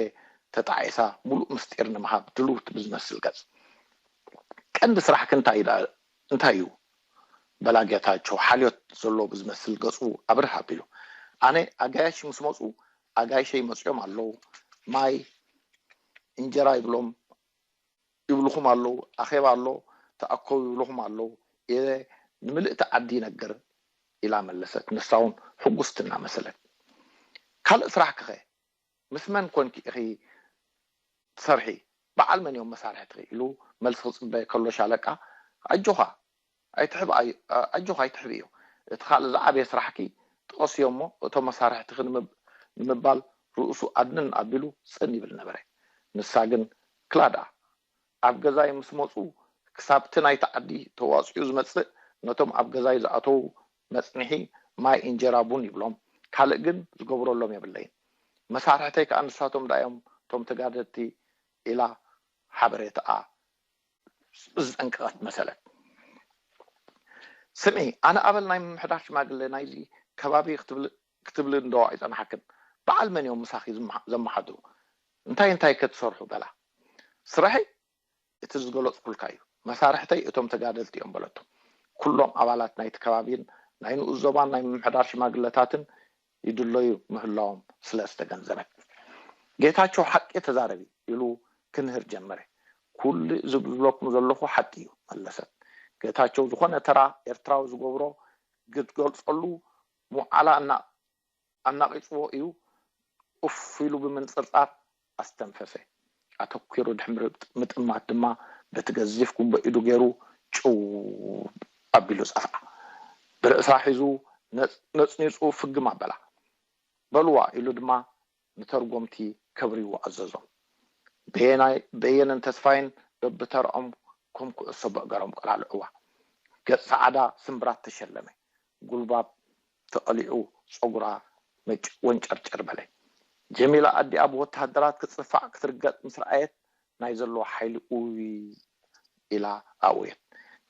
A: ተጣዒሳ ምሉእ ምስጢር ንምሃብ ድልውቲ ብዝመስል ገጽ። ቀንዲ ስራሕኪ እንታይ እዩ ድኣ እንታይ እዩ? በላ ጌታቸው ሓልዮት ዘለዎ ብዝመስል ገጹ ኣብርህ ኣቢሉ። ኣነ ኣጋይሽ ምስ መጹ ኣጋይሸይ መጺኦም ኣለዉ ማይ እንጀራ ይብሎም ይብሉኹም ኣለዉ፣ ኣኼባ ኣሎ ተኣከቡ ይብሉኹም ኣለዉ ኢለ ንምልእቲ ዓዲ ይነግር ኢላ መለሰት ንሳውን ሕጉስቲ እናመሰለት። ካልእ ስራሕኪኸ ምስ መን ኰንኪ ኢኺ ትሰርሒ፣ በዓል መን እዮም መሳርሕትኺ ኢሉ መልሲ ክጽበ ከሎ ሻለቃ ኣጆኻ ኣይትሕብእ ኣጆኺ ኣይትሕብእዮ እቲ ካልእ ዝዓበየ ስራሕኪ ጥቐስዮ እሞ እቶም መሳርሕትኺ ንምባል ርእሱ ኣድንን ኣቢሉ ጽን ይብል ነበረ ንሳ ግን ክላ ድኣ ኣብ ገዛይ ምስ መጹ ክሳብቲ ናይቲ ዓዲ ተዋጺኡ ዝመጽእ ነቶም ኣብ ገዛይ ዝኣተዉ መጽንሒ ማይ እንጀራ ቡን ይብሎም ካልእ ግን ዝገብረሎም የብለይን መሳርሕተይ ከኣ ንሳቶም ድኣዮም እቶም ተጋደድቲ ኢላ ሓበሬትኣ ዝጠንቀቐት መሰለት ስሚ ኣነ ኣበል ናይ ምምሕዳር ሽማግለ ናይዚ ከባቢ ክትብሊ እንዶ ኣይጸናሓክን በዓል መን እዮም ምሳኺ ዘመሓድሩ እንታይ እንታይ ከ ትሰርሑ በላ ስራሐይ እቲ ዝገለጽኩልካ እዩ መሳርሕተይ እቶም ተጋደልቲ እዮም በለቶ ኩሎም ኣባላት ናይቲ ከባቢን ናይ ንኡስ ዞባን ናይ ምምሕዳር ሽማግለታትን ይድለዩ ምህላዎም ስለ ዝተገንዘበ። ጌታቸው ሓቂ ተዛረቢ ኢሉ ክንህር ጀመረ። ኩሉ እዚ ዝብለኩም ዘለኹ ሓቂ እዩ መለሰት። ጌታቸው ዝኾነ ተራ ኤርትራዊ ዝገብሮ ግትገልጸሉ ምውዓላ ኣናቂጽዎ እዩ ኡፍ ኢሉ ብምንጽርጻር ኣስተንፈፈ። ኣተኲሩ ድሕሪ ምጥማት ድማ በቲ ገዚፍ ጉምቦ ኢዱ ገይሩ ጭው ኣቢሉ ጸፍዓ። ብርእሳ ሒዙ ነጽኒጹ ፍግም ኣበላ። በሉዋ ኢሉ ድማ ንተርጎምቲ ከብርይዎ ኣዘዞም። በየነን ተስፋይን በብተርኦም ከም ኩዕሶ በእገሮም ቆላልዑዋ። ገጽ ሰዓዳ ስምብራት ተሸለመ። ጉልባብ ተቐሊዑ ጸጉራ ነጭ ወንጨርጨር በለ። ጀሚላ ኣዲኣ ብወተሃደራት ክትጽፋዕ ክትርገጥ ምስ ረኣየት ናይ ዘለዎ ሓይሊ ኡይይ ኢላ ኣእወየት።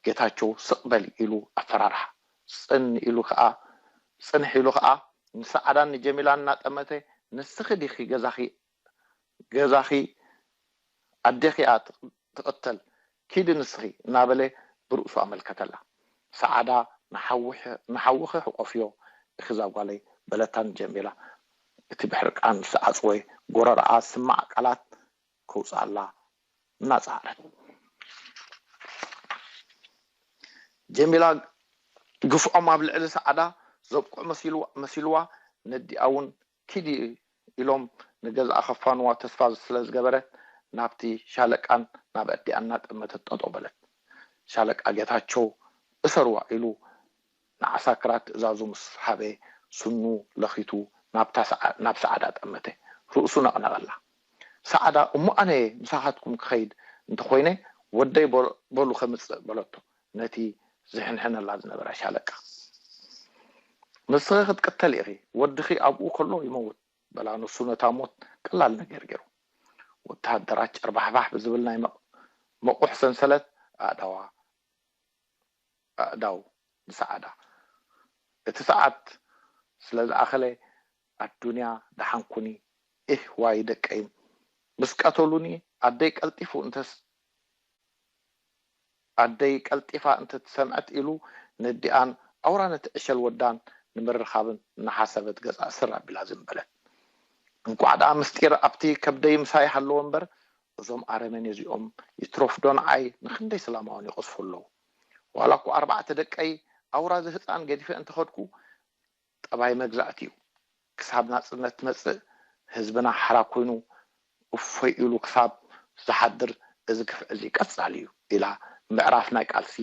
A: ጌታቸው ስቕ በል ኢሉ ኣፈራርሓ። ጽን ኢሉ ከኣ ጽንሕ ኢሉ ከኣ ንሰዓዳን ንጀሚላን እናጠመተ ንስኺ ዲኺ ገዛኺ ገዛኺ ኣዴኺ'ያ ትቕተል ኪዲ ንስኺ እናበለ ብርእሱ ኣመልከተላ። ሰዓዳ ንሓውኺ ሕቆፍዮ ኢኺ ዛጓለይ በለታ ንጀሚላ እቲ ብሕርቃን ዝተዓጽወ ጎረረኣ ዝስማዕ ቃላት ከውጽኣላ እናጸዓረት። ጀሚላ ግፍዖም ኣብ ልዕሊ ሰዓዳ ዘብቅዑ መሲልዋ ነዲኣ'ውን ኪዲ ኢሎም ንገዝኣ ከፋንዋ ተስፋ ስለ ዝገበረ ናብቲ ሻለቃን ናብ ኣዲኣ እናጠመተት ጠጠው በለት። ሻለቃ ጌታቸው እሰርዋ ኢሉ ንዓሳክራት ትእዛዙ ምስ ሃበ ስኑ ለኺቱ ናብ ሰዓዳ ጠመተ። ርእሱ ነቕነቐላ። ሰዓዳ እሞ ኣነ ምሳኻትኩም ክኸይድ እንተኾይነ ወደይ በሉ ከምፅእ በለቶ። ነቲ ዝሕንሕነላ ዝነበረ ሻለቃ። ንስኺ ክትቅተሊ ኢኺ፣ ወድኺ ኣብኡ ከሎ ይመውት፣ በላ ንሱ ነታ ሞት ቀላል ነገር ገይሩ። ወተሃደራት ጨርባሕባሕ ብዝብል ናይ መቑሕ ሰንሰለት ኣእዳዋ ኣእዳው ንሰዓዳ። እቲ ሰዓት ስለ ዝኣኸለ ኣዱንያ ደሓን ኩኒ ኢህ ዋይ ደቀይ ምስ ቀተሉኒ ኣደይ ቀልጢፉ እንተስ ኣደይ ቀልጢፋ እንተ ትሰምዐት ኢሉ ነዲኣን ኣውራ ነቲ ዕሸል ወዳን ንምርኻብን እናሓሰበት ገጻ ስር ኣቢላ ዝን በለት እንኳዕ ደኣ ምስጢር ኣብቲ ከብደይ ምሳይ ሃለወ እምበር እዞም ኣረመኔ እዚኦም ይትረፍ ዶ ንዓይ ንኽንደይ ስላማውን ይቐዝፉ ኣለዉ ዋላ እኳ ኣርባዕተ ደቀይ ኣውራ እዚ ህጻን ገዲፈ እንተኸድኩ ጠባይ መግዛእቲ እዩ ክሳብ ናጽነት ትመጽእ ህዝብና ሓራ ኮይኑ እፎይ ኢሉ ክሳብ ዝሓድር እዚ ግፍዒ እዚ ቀጻሊ እዩ ኢላ ምዕራፍ ናይ ቃልሲ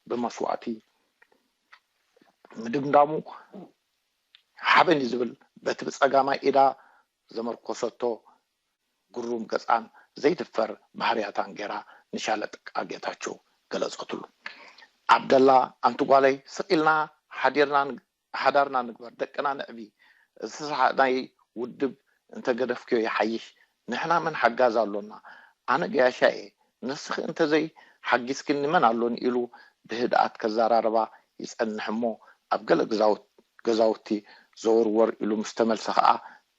A: ብመስዋእቲ ምድምዳሙ ሓበን እዩ ዝብል በቲ ብጸጋማይ ኢዳ ዘመርኮሰቶ ግሩም ገጻን ዘይድፈር ባህርያታን ጌራ ንሻለቃ ጌታቸው ገለጸትሉ። ዓብደላ ኣንቲ ጓለይ ስቕ ኢልና ሓዲርና ሓዳርና ንግበር ደቅና ነዕቢ እዚ ሰሓቕናይ ውድብ እንተገደፍክዮ ይሓይሽ ንሕና መን ሓጋዚ ኣሎና ኣነ ገያሻይ'የ ንስኺ እንተዘይ ሓጊዝክኒ መን ኣሎኒ ኢሉ ብህድኣት ከዘራርባ ይጸንሕ'ሞ ኣብ ገለ ገዛውቲ ዘወርወር ኢሉ ምስ ተመልሰ ከኣ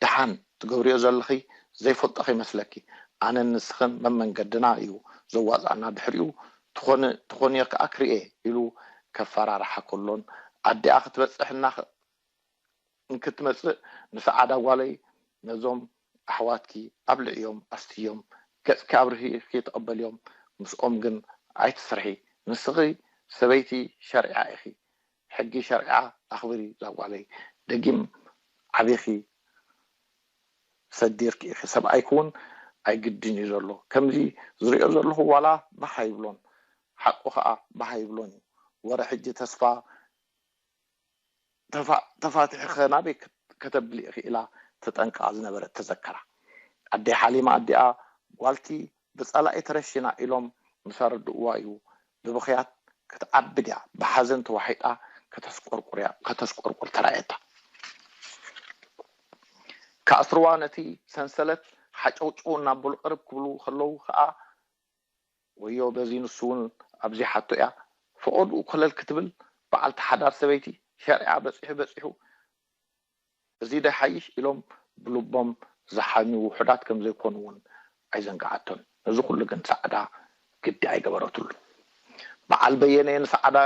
A: ደሓን ትገብርዮ ዘለኺ ዘይፈልጦ ከይመስለኪ ኣነን ንስኽን መመንገድና እዩ ዘዋጽኣና ድሕሪኡ ትኾኒ ትኾንዮ ከኣ ክርኤ ኢሉ ከፈራርሓ ከሎን ኣዲኣ ክትበጽሕ እናኽ እንክትመጽእ ንሰዓዳ ጓለይ ነዞም ኣሕዋትኪ ኣብልዕዮም ኣስትዮም ገጽኪ ኣብርሂኺ ተቐበልዮም ምስኦም ግን ኣይትስርሒ ንስኺ ሰበይቲ ሸርዒያ ኢኺ ሕጊ ሸርዓ ኣኽብሪ ዛጓለይ ደጊም ዓቢኺ ሰዲርኪ ኢኺ ሰብኣይ ክዉን ኣይግድን እዩ ዘሎ ከምዚ ዝሪኦ ዘለኹ ዋላ ባህ ኣይብሎን ሓቁ ከኣ ባህ ኣይብሎን እዩ ወረ ሕጂ ተስፋ ተፋቲሑ ከ ናበይ ከተብሊ ኢኺ ኢላ ትጠንቅቃ ዝነበረት ተዘከራ ኣደይ ሓሊማ ኣዲኣ ጓልቲ ብጸላኢ ተረሺና ኢሎም ምስ ኣረድኡዋ እዩ ብብኽያት ክትዓብድ እያ ብሓዘን ተዋሒጣ ከተስቆርቁር እያ ከተስቆርቁር ተራእየታ ክኣስርዋ ነቲ ሰንሰለት ሓጨውጨው እናበሉ ቅርብ ክብሉ ከለዉ ከኣ ወዮ በዚ ንሱ እውን ኣብዚሓቶ እያ ፈቐድኡ ኮለል ክትብል በዓልቲ ሓዳር ሰበይቲ ሸርዒኣ በጺሑ በጺሑ እዚ'ዶ ይሓይሽ ኢሎም ብልቦም ዝሓምዩ ውሑዳት ከም ዘይኮኑ ውን ኣይዘንግዓቶን። ነዚ ኩሉ ግን ጻዕዳ ግዲ ኣይገበረትሉን። ብዓል በየነ ንጻዕዳ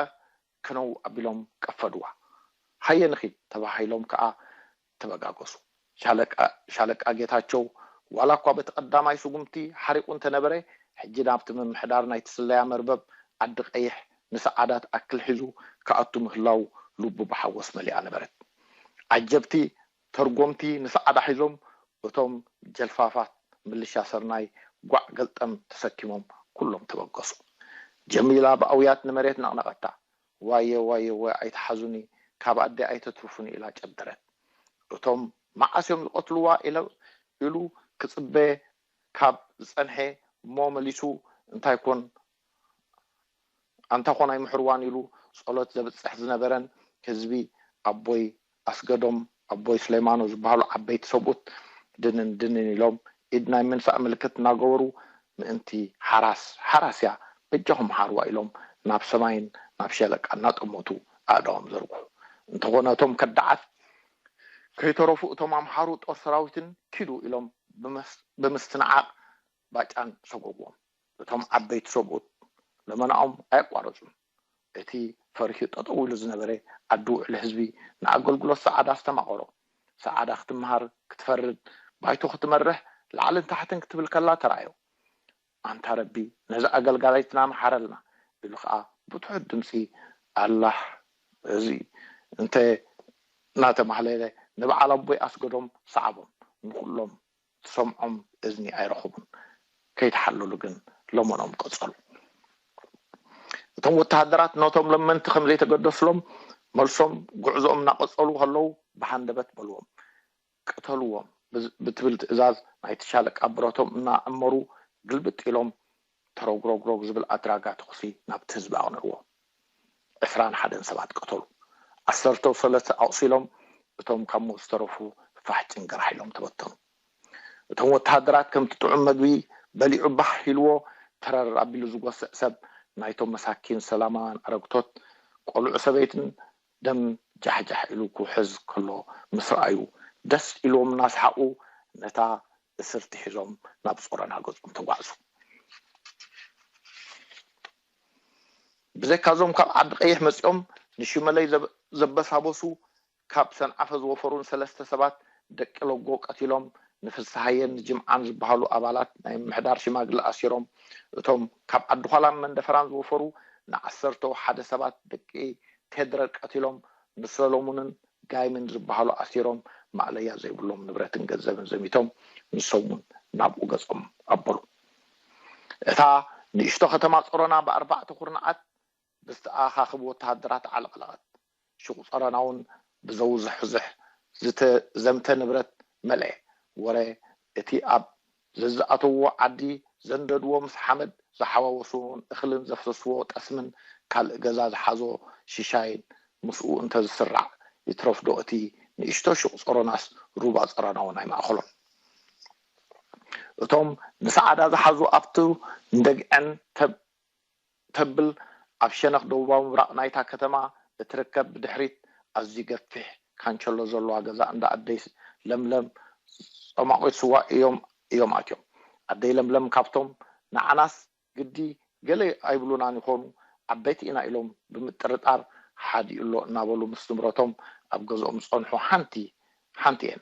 A: ከነው ኣቢሎም ቀፈድዋ። ሃየ ንኺድ ተባሂሎም ከኣ ተበጋገሱ። ሻለቃ ጌታቸው ዋላኳ በቲ ቀዳማይ ስጉምቲ ሓሪቑ እንተነበረ፣ ሕጂ ናብቲ ምምሕዳር ናይቲ ስለያ መርበብ ዓዲ ቀይሕ ምስ ዓዳት ኣክል ሒዙ ክኣቱ ምህላው ልቡ ብሓጎስ መሊኣ ነበረት። ዓጀብቲ ተርጎምቲ ምስ ዓዳ ሒዞም እቶም ጀልፋፋት ምልሻ ሰርናይ ጓዕ ገልጠም ተሰኪሞም ኩሎም ተበገሱ። ጀሚላ ብኣውያት ንመሬት ነቕነቐታ። ዋየ ዋየ ዋይ ኣይትሓዙኒ ካብ ኣደይ ኣይተትርፉኒ ኢላ ጨደረት። እቶም መዓስ እዮም ዝቐትሉዋ ኢሉ ክጽበ ካብ ዝጸንሔ እሞ መሊሱ እንታይ ኮን ኣንታ ኮን ኣይምሕርዋን ኢሉ ጸሎት ዘብጽሕ ዝነበረን ህዝቢ ኣቦይ ኣስገዶም ኣቦይ ሱሌማኖ ዝበሃሉ ዓበይቲ ሰብኡት ድንን ድንን ኢሎም ኢድ ናይ ምንሳእ ምልክት እናገበሩ ምእንቲ ሓራስ ሓራስያ በጃኹም ሓርዋ ኢሎም ናብ ሰማይን ናብ ሸለቃ እናጠመቱ ኣእዳዎም ዘርግሑ እንተኾነ እቶም ከዳዓት ከይተረፉ እቶም ኣምሓሩ ጦር ሰራዊትን ኪዱ ኢሎም ብምስትንዓቅ ባጫን ሰጎጎን እቶም ዓበይቲ ሰብኡት ልመናኦም ኣየቋረጹን። እቲ ፈሪሑ ጠጠው ኢሉ ዝነበረ ዓዲ ውዕሊ ህዝቢ ንኣገልግሎት ሰዓዳ ኣስተማቐሮ። ሰዓዳ ክትመሃር፣ ክትፈርድ፣ ባይቶ ክትመርሕ ላዕልን ታሕትን ክትብል ከላ ተራእዮ። ኣንታ ረቢ ነዛ ኣገልጋሊትና መሓረልና ኢሉ ከኣ ብትሑት ድምጺ ኣላህ እዚ እንተ እናተማህለለ ንበዓል ኣቦይ ኣስገዶም ሰዓቦም ንኹሎም ትሰምዖም እዝኒ ኣይረኸቡን። ከይተሓለሉ ግን ለመኖም ቀጸሉ። እቶም ወተሃደራት ነቶም ለመንቲ ከም ዘይተገደሱሎም መልሶም ጉዕዞኦም እናቐጸሉ ከለዉ ብሃንደበት በልዎም፣ ቅተልዎም ብትብል ትእዛዝ ናይቲ ሻለቃ ብረቶም እናዕመሩ ግልብጥ ኢሎም ተሮግሮግሮግ ዝብል ኣድራጋ ተኹሲ ናብቲ ህዝቢ ኣቕንዕዎ። ዕስራን ሓደን ሰባት ቀተሉ። ዓሰርተው ሰለስተ ኣቑሲሎም እቶም ካብ ሞት ዝተረፉ ፋሕ ጭንግራሕ ኢሎም ተበተኑ። እቶም ወተሃደራት ከምቲ ጥዑም መግቢ በሊዑ ባህ ኢልዎ ተረር ኣቢሉ ዝጎስዕ ሰብ ናይቶም መሳኪን ሰላማውያን ኣረግቶት ቆልዑ ሰበይትን ደም ጃሕጃሕ ኢሉ ክውሕዝ ከሎ ምስ ረኣዩ ደስ ኢልዎም እናሰሓቑ ነታ እስርቲ ሒዞም ናብ ጾሮና ገጾም ተጓዕዙ። ብዘይካ'ዞም ካብ ዓዲ-ቐይሕ መጺኦም ንሽመለይ ዘበሳበሱ ካብ ሰንዓፈ ዝወፈሩን ሰለስተ ሰባት ደቂ ለጎ ቀቲሎም ንፍስሃየን ንጅምዓን ዝበሃሉ ኣባላት ናይ ምምሕዳር ሽማግለ ኣሲሮም እቶም ካብ ዓዲ-ዃላን መንደፈራን ዝወፈሩ ንዓሰርተው ሓደ ሰባት ደቂ ቴድረ ቀቲሎም ንሰለሙንን ጋይምን ዝበሃሉ ኣሲሮም ማእለያ ዘይብሎም ንብረትን ገንዘብን ዘሚቶም ንሶም እውን ናብኡ ገፆም ኣበሉ። እታ ንእሽቶ ከተማ ፆሮና ብኣርባዕተ ኩርናዓት ብዝተኣኻኸቡ ወተሃደራት ዓለቕለቐት። ሹቕ ፆሮና እውን ብዘውዝሕዙሕ ዝተዘምተ ንብረት መልኤ። ወረ እቲ ኣብ ዘዝኣተውዎ ዓዲ ዘንደድዎ ምስ ሓመድ ዝሓዋወሱዎን እኽልን ዘፍሰሱዎ ጠስምን ካልእ ገዛ ዝሓዞ ሽሻይን ምስኡ እንተ ዝስራዕ ይትረፍዶ እቲ ንእሽቶ ሹቕ ጸሮናስ ሩባ ጸሮና'ውን ኣይማእከሎን። እቶም ንሰዓዳ ዝሓዙ ኣብቱ ንደግዐን ተብ እተብል ኣብ ሸነኽ ደቡባዊ ምብራቕ ናይታ ከተማ እትርከብ ብድሕሪት ኣዝዩ ገፊሕ ካንቸሎ ዘለዋ ገዛ እንዳ ኣደይ ለምለም ጸሟቚት ስዋ እዮም እዮም ኣትዮም። ኣደይ ለምለም ካብቶም ንዓናስ ግዲ ገለ ኣይብሉናን ይዀኑ ዓበይቲ ኢና ኢሎም ብምጥርጣር ሓዲኡ'ሎ እናበሉ ምስ ንብረቶም ኣብ ገዝኦም ዝጸንሑ ሓንቲ ሓንቲ'የን።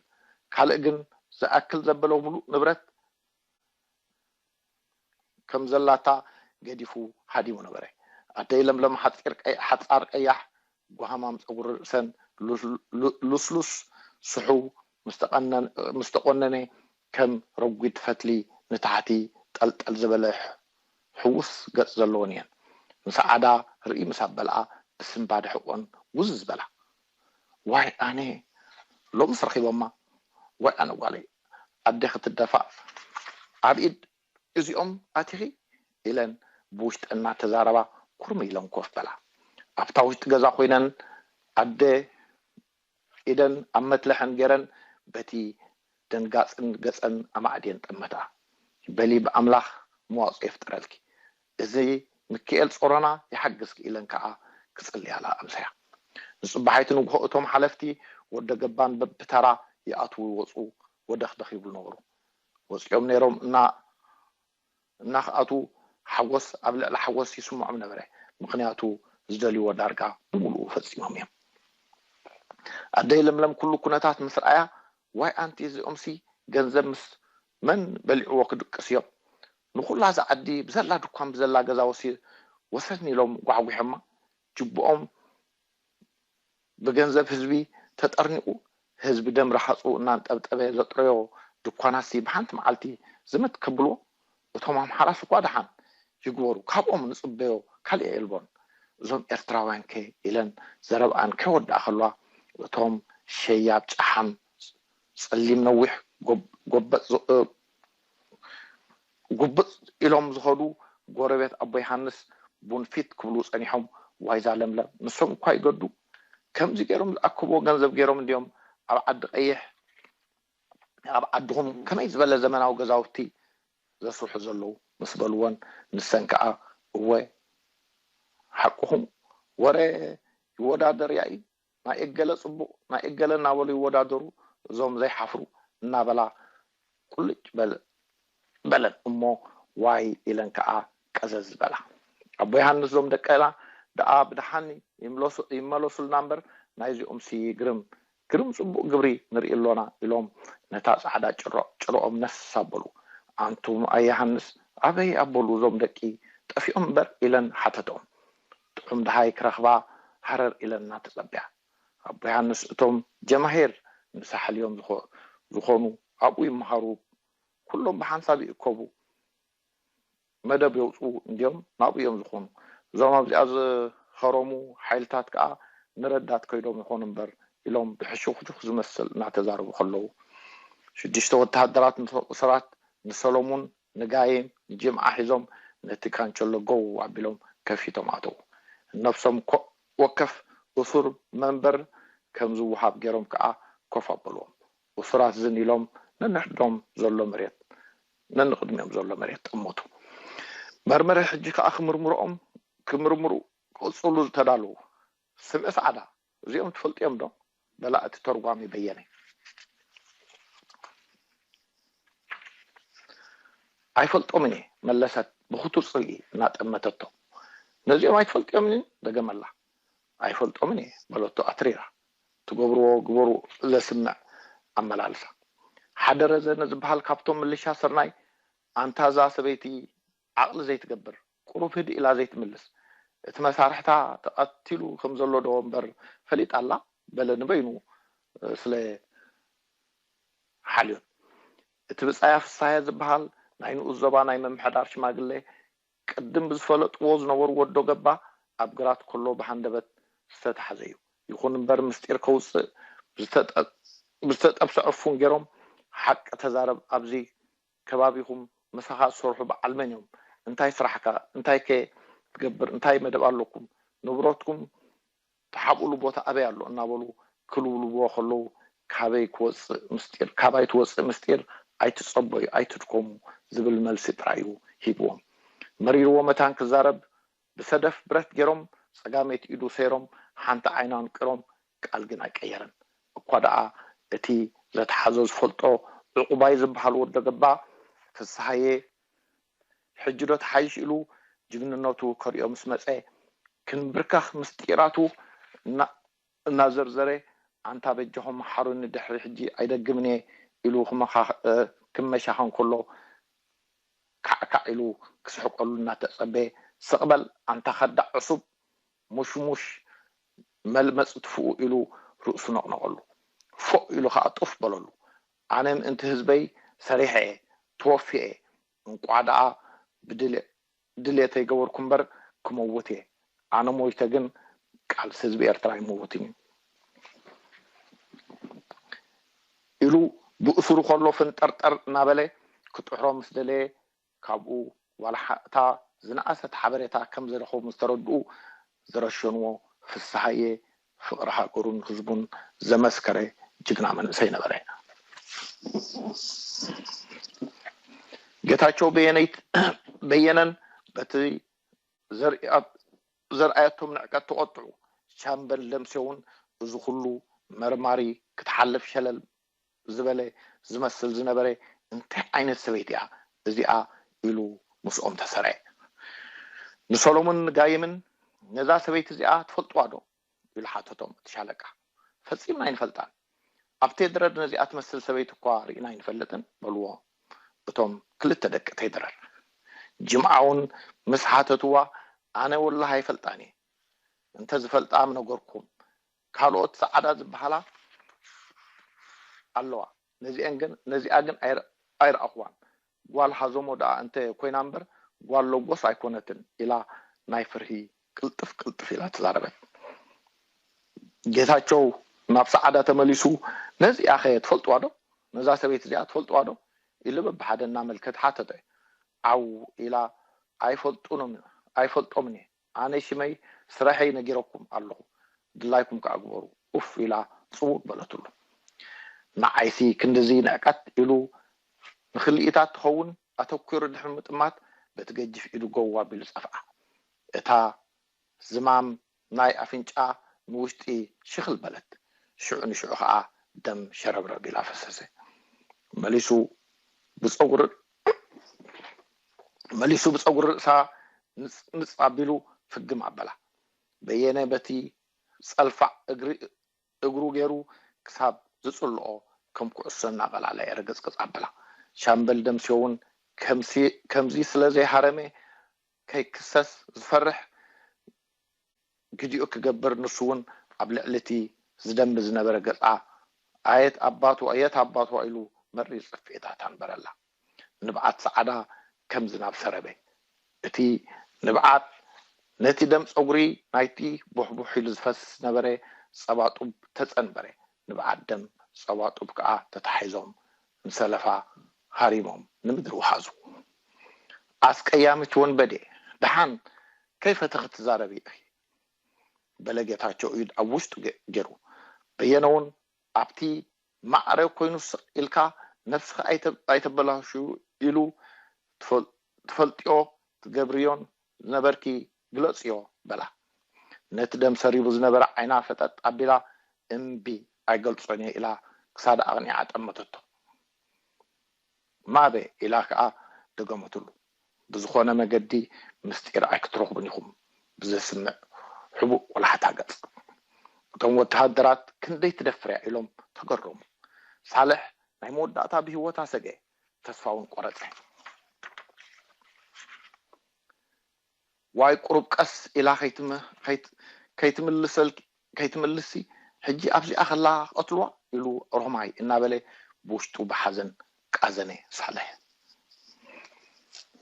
A: ካልእ ግን ዝኣክል ዘበለ ምሉእ ንብረት ከም ዘላታ ገዲፉ ሃዲሙ ነበረ። ኣደይ ለምለም ሓጻር ቀያሕ፣ ጓህማም ጸጉሪ ርእሰን ልስሉስ ስሑው ምስ ተቖነነ ከም ረጒድ ፈትሊ ንታሕቲ ጠልጠል ዝበለ ሕዉስ ገጽ ዘለወን እየን። ምሰዓዳ ርእይ ምስ ኣበልኣ ብስንባደ ሕቖን ውዝዝ በላ። ዋይ ኣነ ሎምስ ረኺቦማ ዋይ ኣነ ጓለይ ኣደ ክትደፋእ ኣብ ኢድ እዚኦም ኣቲኺ ኢለን ብውሽጠን እናተዛረባ ኩርም ኢለን ኮፍ በላ ኣብታ ውሽጢ ገዛ ኮይነን ኣደ ኢደን ኣብ መትለሐን ገይረን በቲ ደንጋፅን ገፀን ኣማዕድየን ጠመታ በሊ ብኣምላኽ መዋፅኦ ይፍጠረልኪ እዚ ምኪኤል ጾሮና ይሓግዝኪ ኢለን ከኣ ክጽልያላ ኣምሰያ። ንጽባሒቱ ንግሆ እቶም ሓለፍቲ ወደ ገባን በብተራ ይኣትዉ ይወጹ ወደኽደኽ ይብሉ ነበሩ። ወጺኦም ነይሮም እና እና ክኣትዉ ሓጎስ ኣብ ልዕሊ ሓጎስ ይስምዖም ነበረ ምኽንያቱ ዝደልይዎ ዳርጋ ብምሉኡ ፈጺሞም እዮም። ኣደይ ለምለም ኩሉ ኩነታት ምስ ረኣያ ዋይ ኣንቲ እዚኦምሲ ገንዘብ ምስ መን በሊዕዎ ክድቅሱ እዮም ንኹላ እዛ ዓዲ ብዘላ ድኳን ብዘላ ገዛ ወሲድ ወሰድኒ ኢሎም ጓሕጒሖማ ጅብኦም ብገንዘብ ህዝቢ ተጠርኒቑ ህዝቢ ደም ርሃጹ እናንጠብጠበ ዘጥረዮ ድኳናትሲ ብሓንቲ መዓልቲ ዝምት ከብልዎ እቶም ኣምሓራስ እኳ ደሓን ይግበሩ ካብኦም ንጽበዮ ካልእ የልቦን እዞም ኤርትራውያንከ ኢለን ዘረብኣን ከይወድኣ ከለዋ እቶም ሸያብ ጨሓም ጸሊም ነዊሕ ጎበጥ ጉብጥ ኢሎም ዝኸዱ ጎረቤት ኣቦ ዮሃንስ ቡን ፊት ክብሉ ጸኒሖም፣ ዋይዛ ለምለም ንሶም እኳ ይገዱ ከምዚ ገይሮም ዝኣከብዎ ገንዘብ ገይሮም እንድዮም ኣብ ዓዲ ቀይሕ ኣብ ዓድኹም ከመይ ዝበለ ዘመናዊ ገዛውቲ ዘስርሑ ዘለዉ ምስ በልወን ንሰን ከኣ እወ ሓቅኹም ወረ ይወዳደር ያኢ ናይ እገለ ጽቡቕ ናይ እገለ እናበሉ ይወዳደሩ እዞም ዘይሓፍሩ እናበላ ቁልጭ በለን እሞ ዋይ ኢለን ከኣ ቀዘዝ በላ። ኣቦ ዮሃንስ እዞም ደቅና ደኣ ብደሓን ይመለሱልና እምበር ናይዚኦምሲ ግርም ግርም ጽቡቕ ግብሪ ንርኢ ኣሎና ኢሎም ነታ ጻዕዳ ጭሮ ጭርኦም ነስ ኣበሉ። ኣንቱም ኣያሃንስ ኣበይ ኣበሉ እዞም ደቂ ጠፊኦም እምበር ኢለን ሓተተኦም። ጥዑም ደሃይ ክረኽባ ሃረር ኢለና ተጸብያ ኣቦ ዮሃንስ እቶም ጀማሂር ንሳሕል እዮም ዝኾኑ ኣብኡ ይመሃሩ ኩሎም ብሓንሳብ ይእከቡ መደብ የውጽኡ እንድዮም ናብኡ እዮም ዝኾኑ እዞም ኣብዚኣ ዝኸረሙ ሓይልታት ከኣ ንረዳት ከይዶም ይኾኑ እምበር ኢሎም ብሕሹኽሹኽ ዝመስል እናተዛረቡ ከለዉ ሽዱሽተ ወተሃደራት ንሰራት ንሰለሙን ንጋይም ጅምዓ ሒዞም ነቲ ካንቸሎ ጎው ኣቢሎም ከፊቶም ኣተዉ። ንነብሶም ኮእ ወከፍ እሱር መንበር ከም ዝወሃብ ገይሮም ከኣ ኮፍ ኣበሉዎም። እሱራት ዝን ኢሎም ነንሕድሕዶም ዘሎ መሬት ነንቕድሚኦም ዘሎ መሬት ጠመቱ። መርመሪ ሕጂ ከኣ ክምርምርኦም ክምርምሩ ክቕጽሉ ተዳለዉ። ስለ ጻዕዳ እዚኦም ትፈልጥዮም ዶ በላ እቲ ተርጓሚ በየነ። ኣይፈልጦምን እየ መለሰት ብክቱር ጽልኢ እናጠመተቶ። ነዚኦም ኣይትፈልጥዮምንን ደገመላ። ኣይፈልጦምን እየ በለቶ ኣትሪራ ትገብርዎ ግበሩ ዘስምዕ ኣመላልሳ። ሓደ ረዘነ ዝበሃል ካብቶም ምልሻ ስርናይ ኣንታ እዛ ሰበይቲ ዓቕሊ ዘይትገብር ቁሩብ ህድእ ኢላ ዘይትምልስ እቲ መሳርሕታ ተቀቲሉ ከም ዘሎ ዶ እምበር ፈሊጣ ኣላ በለ ንበይኑ ስለ ሓልዮት እቲ ብጻያ ፍስሃየ ዝብሃል ናይ ንኡስ ዞባ ናይ ምምሕዳር ሽማግለ ቅድም ብዝፈለጥዎ ዝነበሩ ወዶ ገባ ኣብ ግራት ከሎ ብሃንደበት ዝተታሕዘዩ ይኹን እምበር ምስጢር ከውጽእ ብዝተጠ ብዝተጠብሰ ዕፉን ጌሮም ሓቂ ተዛረብ ኣብዚ ከባቢኹም ምሳኻ ዝሰርሑ በዓል መን እዮም እንታይ ስራሕካ እንታይ ከ ትገብር እንታይ መደብ ኣለኩም ንብረትኩም ትሓብእሉ ቦታ ኣበይ ኣሎ እናበሉ ክልውልብዎ ከለው ካበይ ክወፅእ ምስጢር ካባይ ትወፅእ ምስጢር ኣይትፀበዩ ኣይትድከሙ ዝብል መልሲ ጥራይ እዩ ሂብዎም መሪርዎ መታን ክዛረብ ብሰደፍ ብረት ገይሮም ፀጋመይቲ ኢዱ ሰይሮም ሓንቲ ዓይኑ ኣንቂሮም ቃል ግን ኣይቀየረን። እኳ ደኣ እቲ ዘትሓዞ ዝፈልጦ ዑቑባይ ዝብሃል ወዶ ገባ ፍስሃየ ሕጂዶ ትሓይሽ ኢሉ ጅግንነቱ ከርእዮ ምስ መጸ፣ ክንብርከኽ ምስጢራቱ እናዘርዘረ ኣንታ በጃኹም መሓሩኒ ድሕሪ ሕጂ ኣይደግምን'የ ኢሉ ክመሻኸን ከሎ ካዕካዕ ኢሉ ክስሕቀሉ እናተጸበየ ስቕ በል ኣንታ ከዳዕ ዕሱብ ሙሽሙሽ መልመጽ ትፍኡ ኢሉ ርእሱ ነቕነቐሉ። ፎእ ኢሉ ከኣ ጡፍ በለሉ። ኣነ ምእንቲ ህዝበይ ሰሪሐ'የ፣ ተወፊየ'የ፣ እንቋዕ ደኣ ብድሌተይ ገበርኩ እምበር ክመውት'የ፣ ኣነ ሞይተ ግን ቃልሲ ህዝቢ ኤርትራ ኣይመውትን'ዩ። ኢሉ ብእሱሩ ከሎ ፍንጠርጠር እናበለ ክጥሕሮ ምስ ደለየ ካብኡ ዋላ ሓቕታ ዝነኣሰት ሓበሬታ ከም ዘይረኸቡ ምስ ተረድኡ ዝረሸኑዎ ፍስሃየ ፍቕሪ ሃገሩን ህዝቡን ዘመስከረ ጅግና መንእሰይ ነበረ። ጌታቸው በየነን በቲ ዘርኣየቶም ንዕቀት ተቖጥዑ። ሻምበል ደምሴውን እዚ ኹሉ መርማሪ ክትሓልፍ ሸለል ዝበለ ዝመስል ዝነበረ እንታይ ዓይነት ሰበይቲ እያ እዚኣ ኢሉ ምስኦም ተሰረዐ። ንሰሎሙንን ጋይምን ነዛ ሰበይቲ እዚኣ ትፈልጥዋ ዶ? ኢሉ ሓተቶም። እቲ ሻለቃ ፈጺምና ኣይንፈልጣን፣ ኣብ ቴድረር ነዚኣ ትመስል ሰበይቲ እኳ ርኢና ኣይንፈልጥን በልዎ። እቶም ክልተ ደቂ ቴድረር ጅምዓውን ምስ ሓተትዋ ኣነ ወላሂ ኣይፈልጣን እየ፣ እንተ ዝፈልጣ ምነገርኩም፣ ካልኦት ጸዓዳ ዝበሃላ ኣለዋ ነዚኤን ግን ነዚኣ ግን ኣይረኣኹዋን ጓል ሃዞሞ ደኣ እንተ ኮይና እምበር ጓል ሎጎስ ኣይኮነትን ኢላ ናይ ፍርሂ ቅልጥፍ ቅልጥፍ ኢላ ተዛረበት ጌታቸው ናብ ጸዓዳ ተመሊሱ ነዚኣኸ ትፈልጥዋ ዶ ነዛ ሰበይቲ እዚኣ ትፈልጥዋ ዶ ኢሉ በብሓደ እናመልከተ ሓተተ ዓው ኢላ ኣይፈልጡንም ኣይፈልጦምን እየ ኣነ ሽመይ ስረሐይ ነጊረኩም ኣለኹ ድላይኩም ከኣ ግበሩ ኡፍ ኢላ ጽውእ በለትሉ ንዓይሲ ክንድዚ ንዕቀት ኢሉ ንክልኢታት ትኸውን ኣተኲሩ ድሕሪ ምጥማት በቲ ገጅፍ ኢዱ ጎው ኣቢሉ ጸፍዓ እታ ዝማም ናይ ኣፍንጫ ንውሽጢ ሽኽል በለት ሽዑ ንሽዑ ከኣ ደም ሸረብረብ ኢላ ፈሰሰ መሊሱ ብጸጉሪ መሊሱ ብጸጉሪ ርእሳ ምጽምጽ ኣቢሉ ፍግም ኣበላ። በየነ በቲ ጸልፋዕ እግሪ እግሩ ገይሩ ክሳብ ዝጽልኦ ከም ኩዕሶ እናቐላለዐ ርግጽግጽ ኣበላ። ሻምበል ደምሴ'ውን ከምዚ ስለ ዘይሃረመ ከይክሰስ ዝፈርሕ ቪድዮ ክገብር ንሱ ውን ኣብ ልዕሊ እቲ ዝደሚ ዝነበረ ገጻ ኣየት ኣባቱ ኣየት ኣባቱ ኢሉ መሪር ጽፍዒታት ኣንበረላ። ንብዓት ጸዓዳ ከም ዝናብ ሰረበ። እቲ ንብዓት ነቲ ደም ጸጉሪ ናይቲ ቡሕቡሕ ኢሉ ዝፈስስ ዝነበረ ጸባ ጡብ ተጸንበረ። ንብዓት ደም ጸባ ጡብ ከኣ ተታሒዞም ንሰለፋ ሃሪሞም ንምድሪ ወሓዙ። ኣስቀያሚት ወንበዴ ደሓን ከይፈተኺ ትዛረቢ ኢኺ በለ ጌታቸው ኢድ ኣብ ውሽጡ ጌሩ። በየነ ውን ኣብቲ ማዕረ ኮይኑ ስቕ ኢልካ ነብስኺ ኣይተበላሽዊ ኢሉ ትፈልጦ እትፈልጥዮ ትገብርዮን ዝነበርኪ ግለጽዮ በላ። ነቲ ደም ሰሪቡ ዝነበረ ዓይና ፈጠጥ ኣቢላ እምቢ ኣይገልጾንየ ኢላ ክሳዳ ኣቕኒዓ ጠመተቶ። ማበ ኢላ ከኣ ደገመትሉ። ብዝኾነ መገዲ ምስጢር ኣይክትረኽቡን ኢኹም ብዘስምዕ ሕቡእ ቆላሕታ ገጽ። እቶም ወተሃደራት ክንደይ ትደፍርያ ኢሎም ተገረሙ። ሳልሕ ናይ መወዳእታ ብህይወታ ሰገየ። ተስፋ ውን ቆረጸ። ዋይ ቁሩብ ቀስ ኢላ ከይትምልስሲ ሕጂ ኣብዚኣ ከላ ክቐትሉዋ ኢሉ ሮማይ እናበለ ብውሽጡ ብሓዘን ቃዘነ ሳልሕ።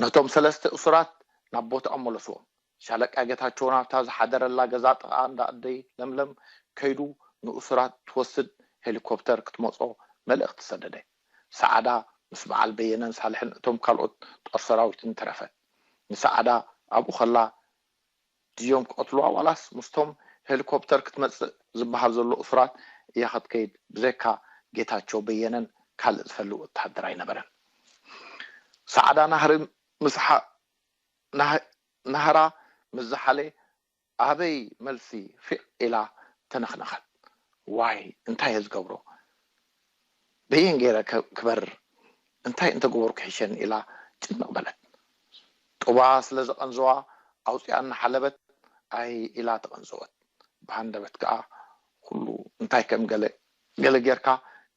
A: ነቶም ሰለስተ እሱራት ናብ ቦታኦም መለስዎም። ሻለቃ ጌታቸው ናብታ ዝሓደረላ ገዛ ጥቓ እንዳ ኣደይ ለምለም ከይዱ ንእሱራት ትወስድ ሄሊኮፕተር ክትመጾ መልእኽቲ ሰደደ። ሰዓዳ ምስ በዓል በየነን ሳልሕን እቶም ካልኦት ጦር ሰራዊትን ተረፈት። ንሰዓዳ ኣብኡ ከላ ድዮም ክቐትሉዋ ዋላስ ምስቶም ሄሊኮፕተር ክትመጽእ ዝበሃል ዘሎ እሱራት እያ ክትከይድ ብዘይካ ጌታቸው በየነን ካልእ ዝፈሊ ወተሃደር ኣይነበረን። ሰዓዳ ናህሪ ምስ ናህራ ምስ ዝሓለ ኣበይ መልሲ ፊዕ ኢላ ተነኽነኸት። ዋይ እንታይ እየ ዝገብሮ በየን ገይረ ከ ክበርር እንታይ እንተገበርኩ ይሕሸኒ ኢላ ጭንቕ በለት። ጡባ ስለ ዘቐንዘዋ ኣውጺኣ እናሓለበት ኣይ ኢላ ተቐንዘወት። ብሃንደበት ከኣ ኩሉ እንታይ ከም ገለ ገለ ጌርካ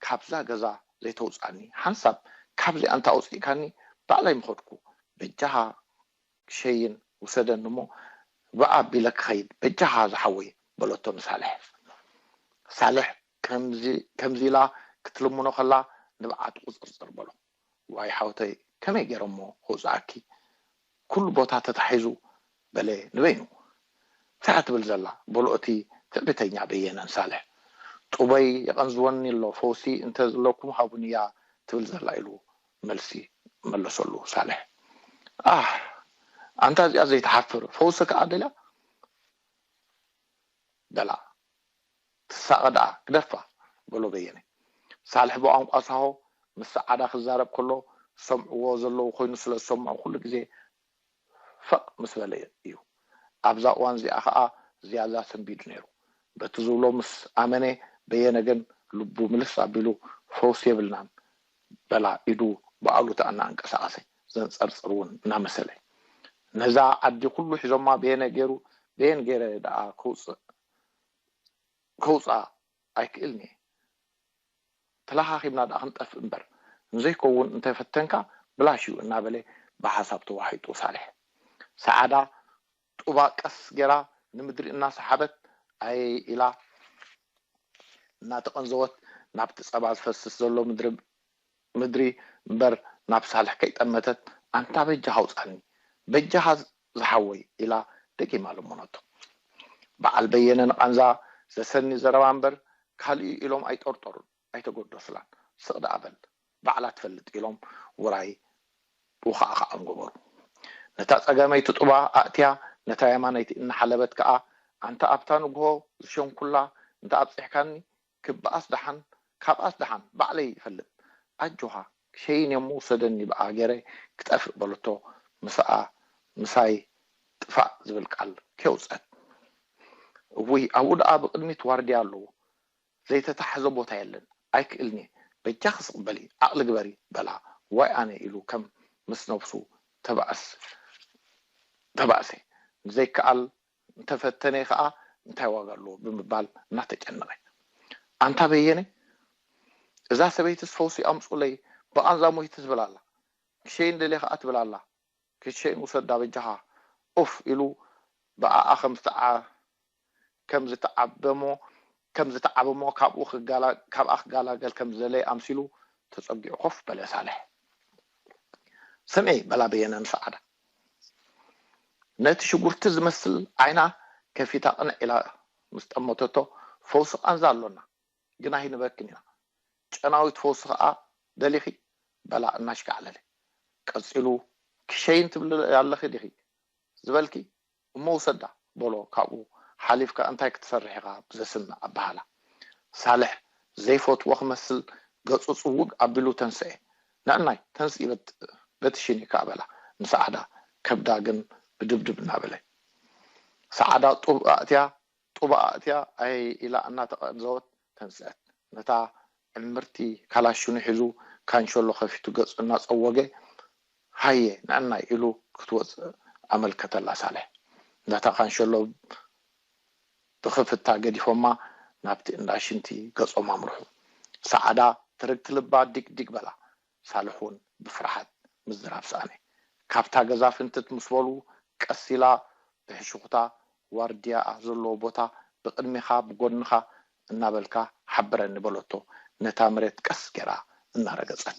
A: ካብዛ ገዛ ዘይተውጽኣኒ ሓንሳብ ካብዚኣ እንተ ኣውጺእካኒ ባዕለይ ምኸድኩ በጃኻ ክሸይን ውሰደኒ እሞ ብእ ኣቢለ ክኸይድ በጃኻ ዝሓወይ በለቶ ንሳልሕ። ሳልሕ ከምዚ ከምዚ ኢላ ክትልምኖ ከላ ንብዓቱ ቁጽርጽር በሎ። ዋይ ሓውተይ ከመይ ገይረ እሞ ከውጽኣኪ ኩሉ ቦታ ተታሒዙ በለ ንበይኑ። እንታይ እያ ትብል ዘላ በሉ እቲ ትዕቢተኛ በየነ ንሳልሕ። ጡበይ የቐንዝወኒ ኣሎ ፈውሲ እንተ ዝለኩም ሃቡኒ'ያ ትብል ዘላ ኢሉ መልሲ መለሰሉ ሳልሕ ኣሕ ኣንታ እዚኣ ዘይትሓፍር ፈውሲ ከኣ ደልያ በላ ትሳቐ ደኣ ግደፋ በሎ በየነ ሳልሕ ብቋንቋ ሳሆ ምስ ሰዓዳ ክዛረብ ከሎ ዝሰምዕዎ ዘለዉ ኮይኑ ስለ ዝሰምዑ ኩሉ ግዜ ፈቅ ምስ በለ እዩ ኣብዛ እዋን እዚኣ ከኣ ዝያዳ ሰንቢዱ ነይሩ በቲ ዝብሎ ምስ ኣመነ በየነ ግን ልቡ ምልስ ኣቢሉ ፈውሲ የብልናን በላ ኢዱ ብኣሉታ እናኣንቀሳቀሰ ዘንጸርጽር እውን እናመሰለ ነዛ ኣዲ ኩሉ ሒዞማ በየነ ገይሩ በየን ገይረ ደኣ ከውጽእ ከውጻ ኣይክእልን'የ ተላኻኺብና ደኣ ክንጠፍእ እምበር ንዘይከውን እንተ ፈተንካ ብላሽ'ዩ እናበለ ብሓሳብ ተዋሒጡ ሳልሕ። ሰዓዳ ጡባ ቀስ ገይራ ንምድሪ እናሰሓበት ኣየይ ኢላ እናተቐንዘወት ናብቲ ጸባ ዝፈስስ ዘሎ ምድሪ ምድሪ እምበር ናብ ሳልሕ ከይጠመተት ኣንታ በጃኻ ኣውጻኒ በጃኻ ዝሓወይ ኢላ ደጊማ ለመነቶ። በዓል በየነ ንቓንዛ ዘሰኒ ዘረባ እምበር ካልእ'ዩ ኢሎም ኣይጠርጠሩን ኣይተገደሱላን። ስቕ ደኣ በል ባዕላ ትፈልጥ ኢሎም ውራይ ውኻዕኻዖም ገበሩ። ነታ ጸጋመይቲ ጡባ ኣእትያ ነታ የማነይቲ እናሓለበት ከኣ ኣንታ ኣብታ ንግሆ ዝሸንኩላ እንተ ኣብጺሕካኒ ክበኣስ ደሓን ካብኣስ ደሓን ባዕለይ ይፈልጥ ኣጆኻ ሸይን እሞ ውሰደኒ ብኣ ገረ ክጠፍእ በለቶ ምስኣ ምሳይ ጥፋእ ዝብል ቃል ከየውጸት እውይ ኣብኡ ደኣ ብቅድሚት ዋርድያ ኣለዉ ዘይተታሕዘ ቦታ የለን ኣይክእልንየ በጃኺ ስቅ በሊ ዓቅሊ ግበሪ በላ ዋይ ኣነ ኢሉ ከም ምስ ነብሱ ተባእሰ ንዘይከኣል እንተፈተነ ከኣ እንታይ ዋጋ ኣለዎ ብምባል እናተጨነቐ ኣንታ በየነ እዛ ሰበይትስ ፈውሲ ኣምጹለይ ብቓንዛ ሞይተ ትብል ኣላ ክሸይን ደልየ ከኣ ትብል ኣላ ክትሸይን ውሰዳ በጃኻ ኡፍ ኢሉ ብኣኣ ከም ዝተዓ ከም ዝተዓበሞ ከም ዝተዓብ'ሞ ካብኡ ክጋላ ካብኣ ክጋላገል ከም ዝደለየ ኣምሲሉ ተጸጊዑ ኮፍ በለ ሳልሕ። ስምዒ! በላ በየነ ንሰዓዳ ነቲ ሽጉርቲ ዝመስል ዓይና ከፊታ ቅንዕ ኢላ ምስ ጠመተቶ፣ ፈውሲ ቃንዛ ኣሎና፣ ግን ኣይንህበክን ኢና። ጨናዊት ፈውሲ ከኣ ደሊኺ? በላ እናሽካዕለለ። ቀጺሉ፣ ክሸይን ትብሊ ኣለኺ ዲኺ ዝበልኪ? እሞ ውሰዳ በሎ ካብኡ ሓሊፍካ እንታይ ክትሰርሕ ኢኻ ብዘስምዕ ኣበሃህላ። ሳልሕ ዘይፈትዎ ክመስል ገጹ ጽውግ ኣቢሉ ተንስኤ ንዕናይ ተንስኢ በቲ ሽኒ ከኣ በላ ንሰዓዳ ከብዳ ግን ብድብድብ እናበለ። ሰዓዳ ጡብ ኣእትያ ጡባ ኣእትያ ኣየየ ኢላ እናተቐንዘወት ተንስኣት። ነታ ዕምርቲ ካላሽኑ ሒዙ ካንሸሎ ከፊቱ ገጹ እናጸወገ ሃየ ንዕናይ ኢሉ ክትወጽእ ኣመልከተላ። ሳልሕ ነታ ካንሸሎ ብኽፍታ ገዲፎማ ናብቲ እንዳ ሽንቲ ገጾም ኣምርሑ። ሰዓዳ ትርግቲ ልባ ዲግ ዲግ በላ። ሳልሕ'ውን ብፍርሓት ምዝራብ ሰኣነ። ካብታ ገዛ ፍንትት ምስ በሉ፣ ቀስ ኢላ ብሕሹኽታ፣ ዋርድያ ኣብ ዘለዎ ቦታ ብቕድሜኻ ብጎድንኻ እናበልካ ሓብረኒ በለቶ ነታ መሬት ቀስ ገይራ እናረገጸት።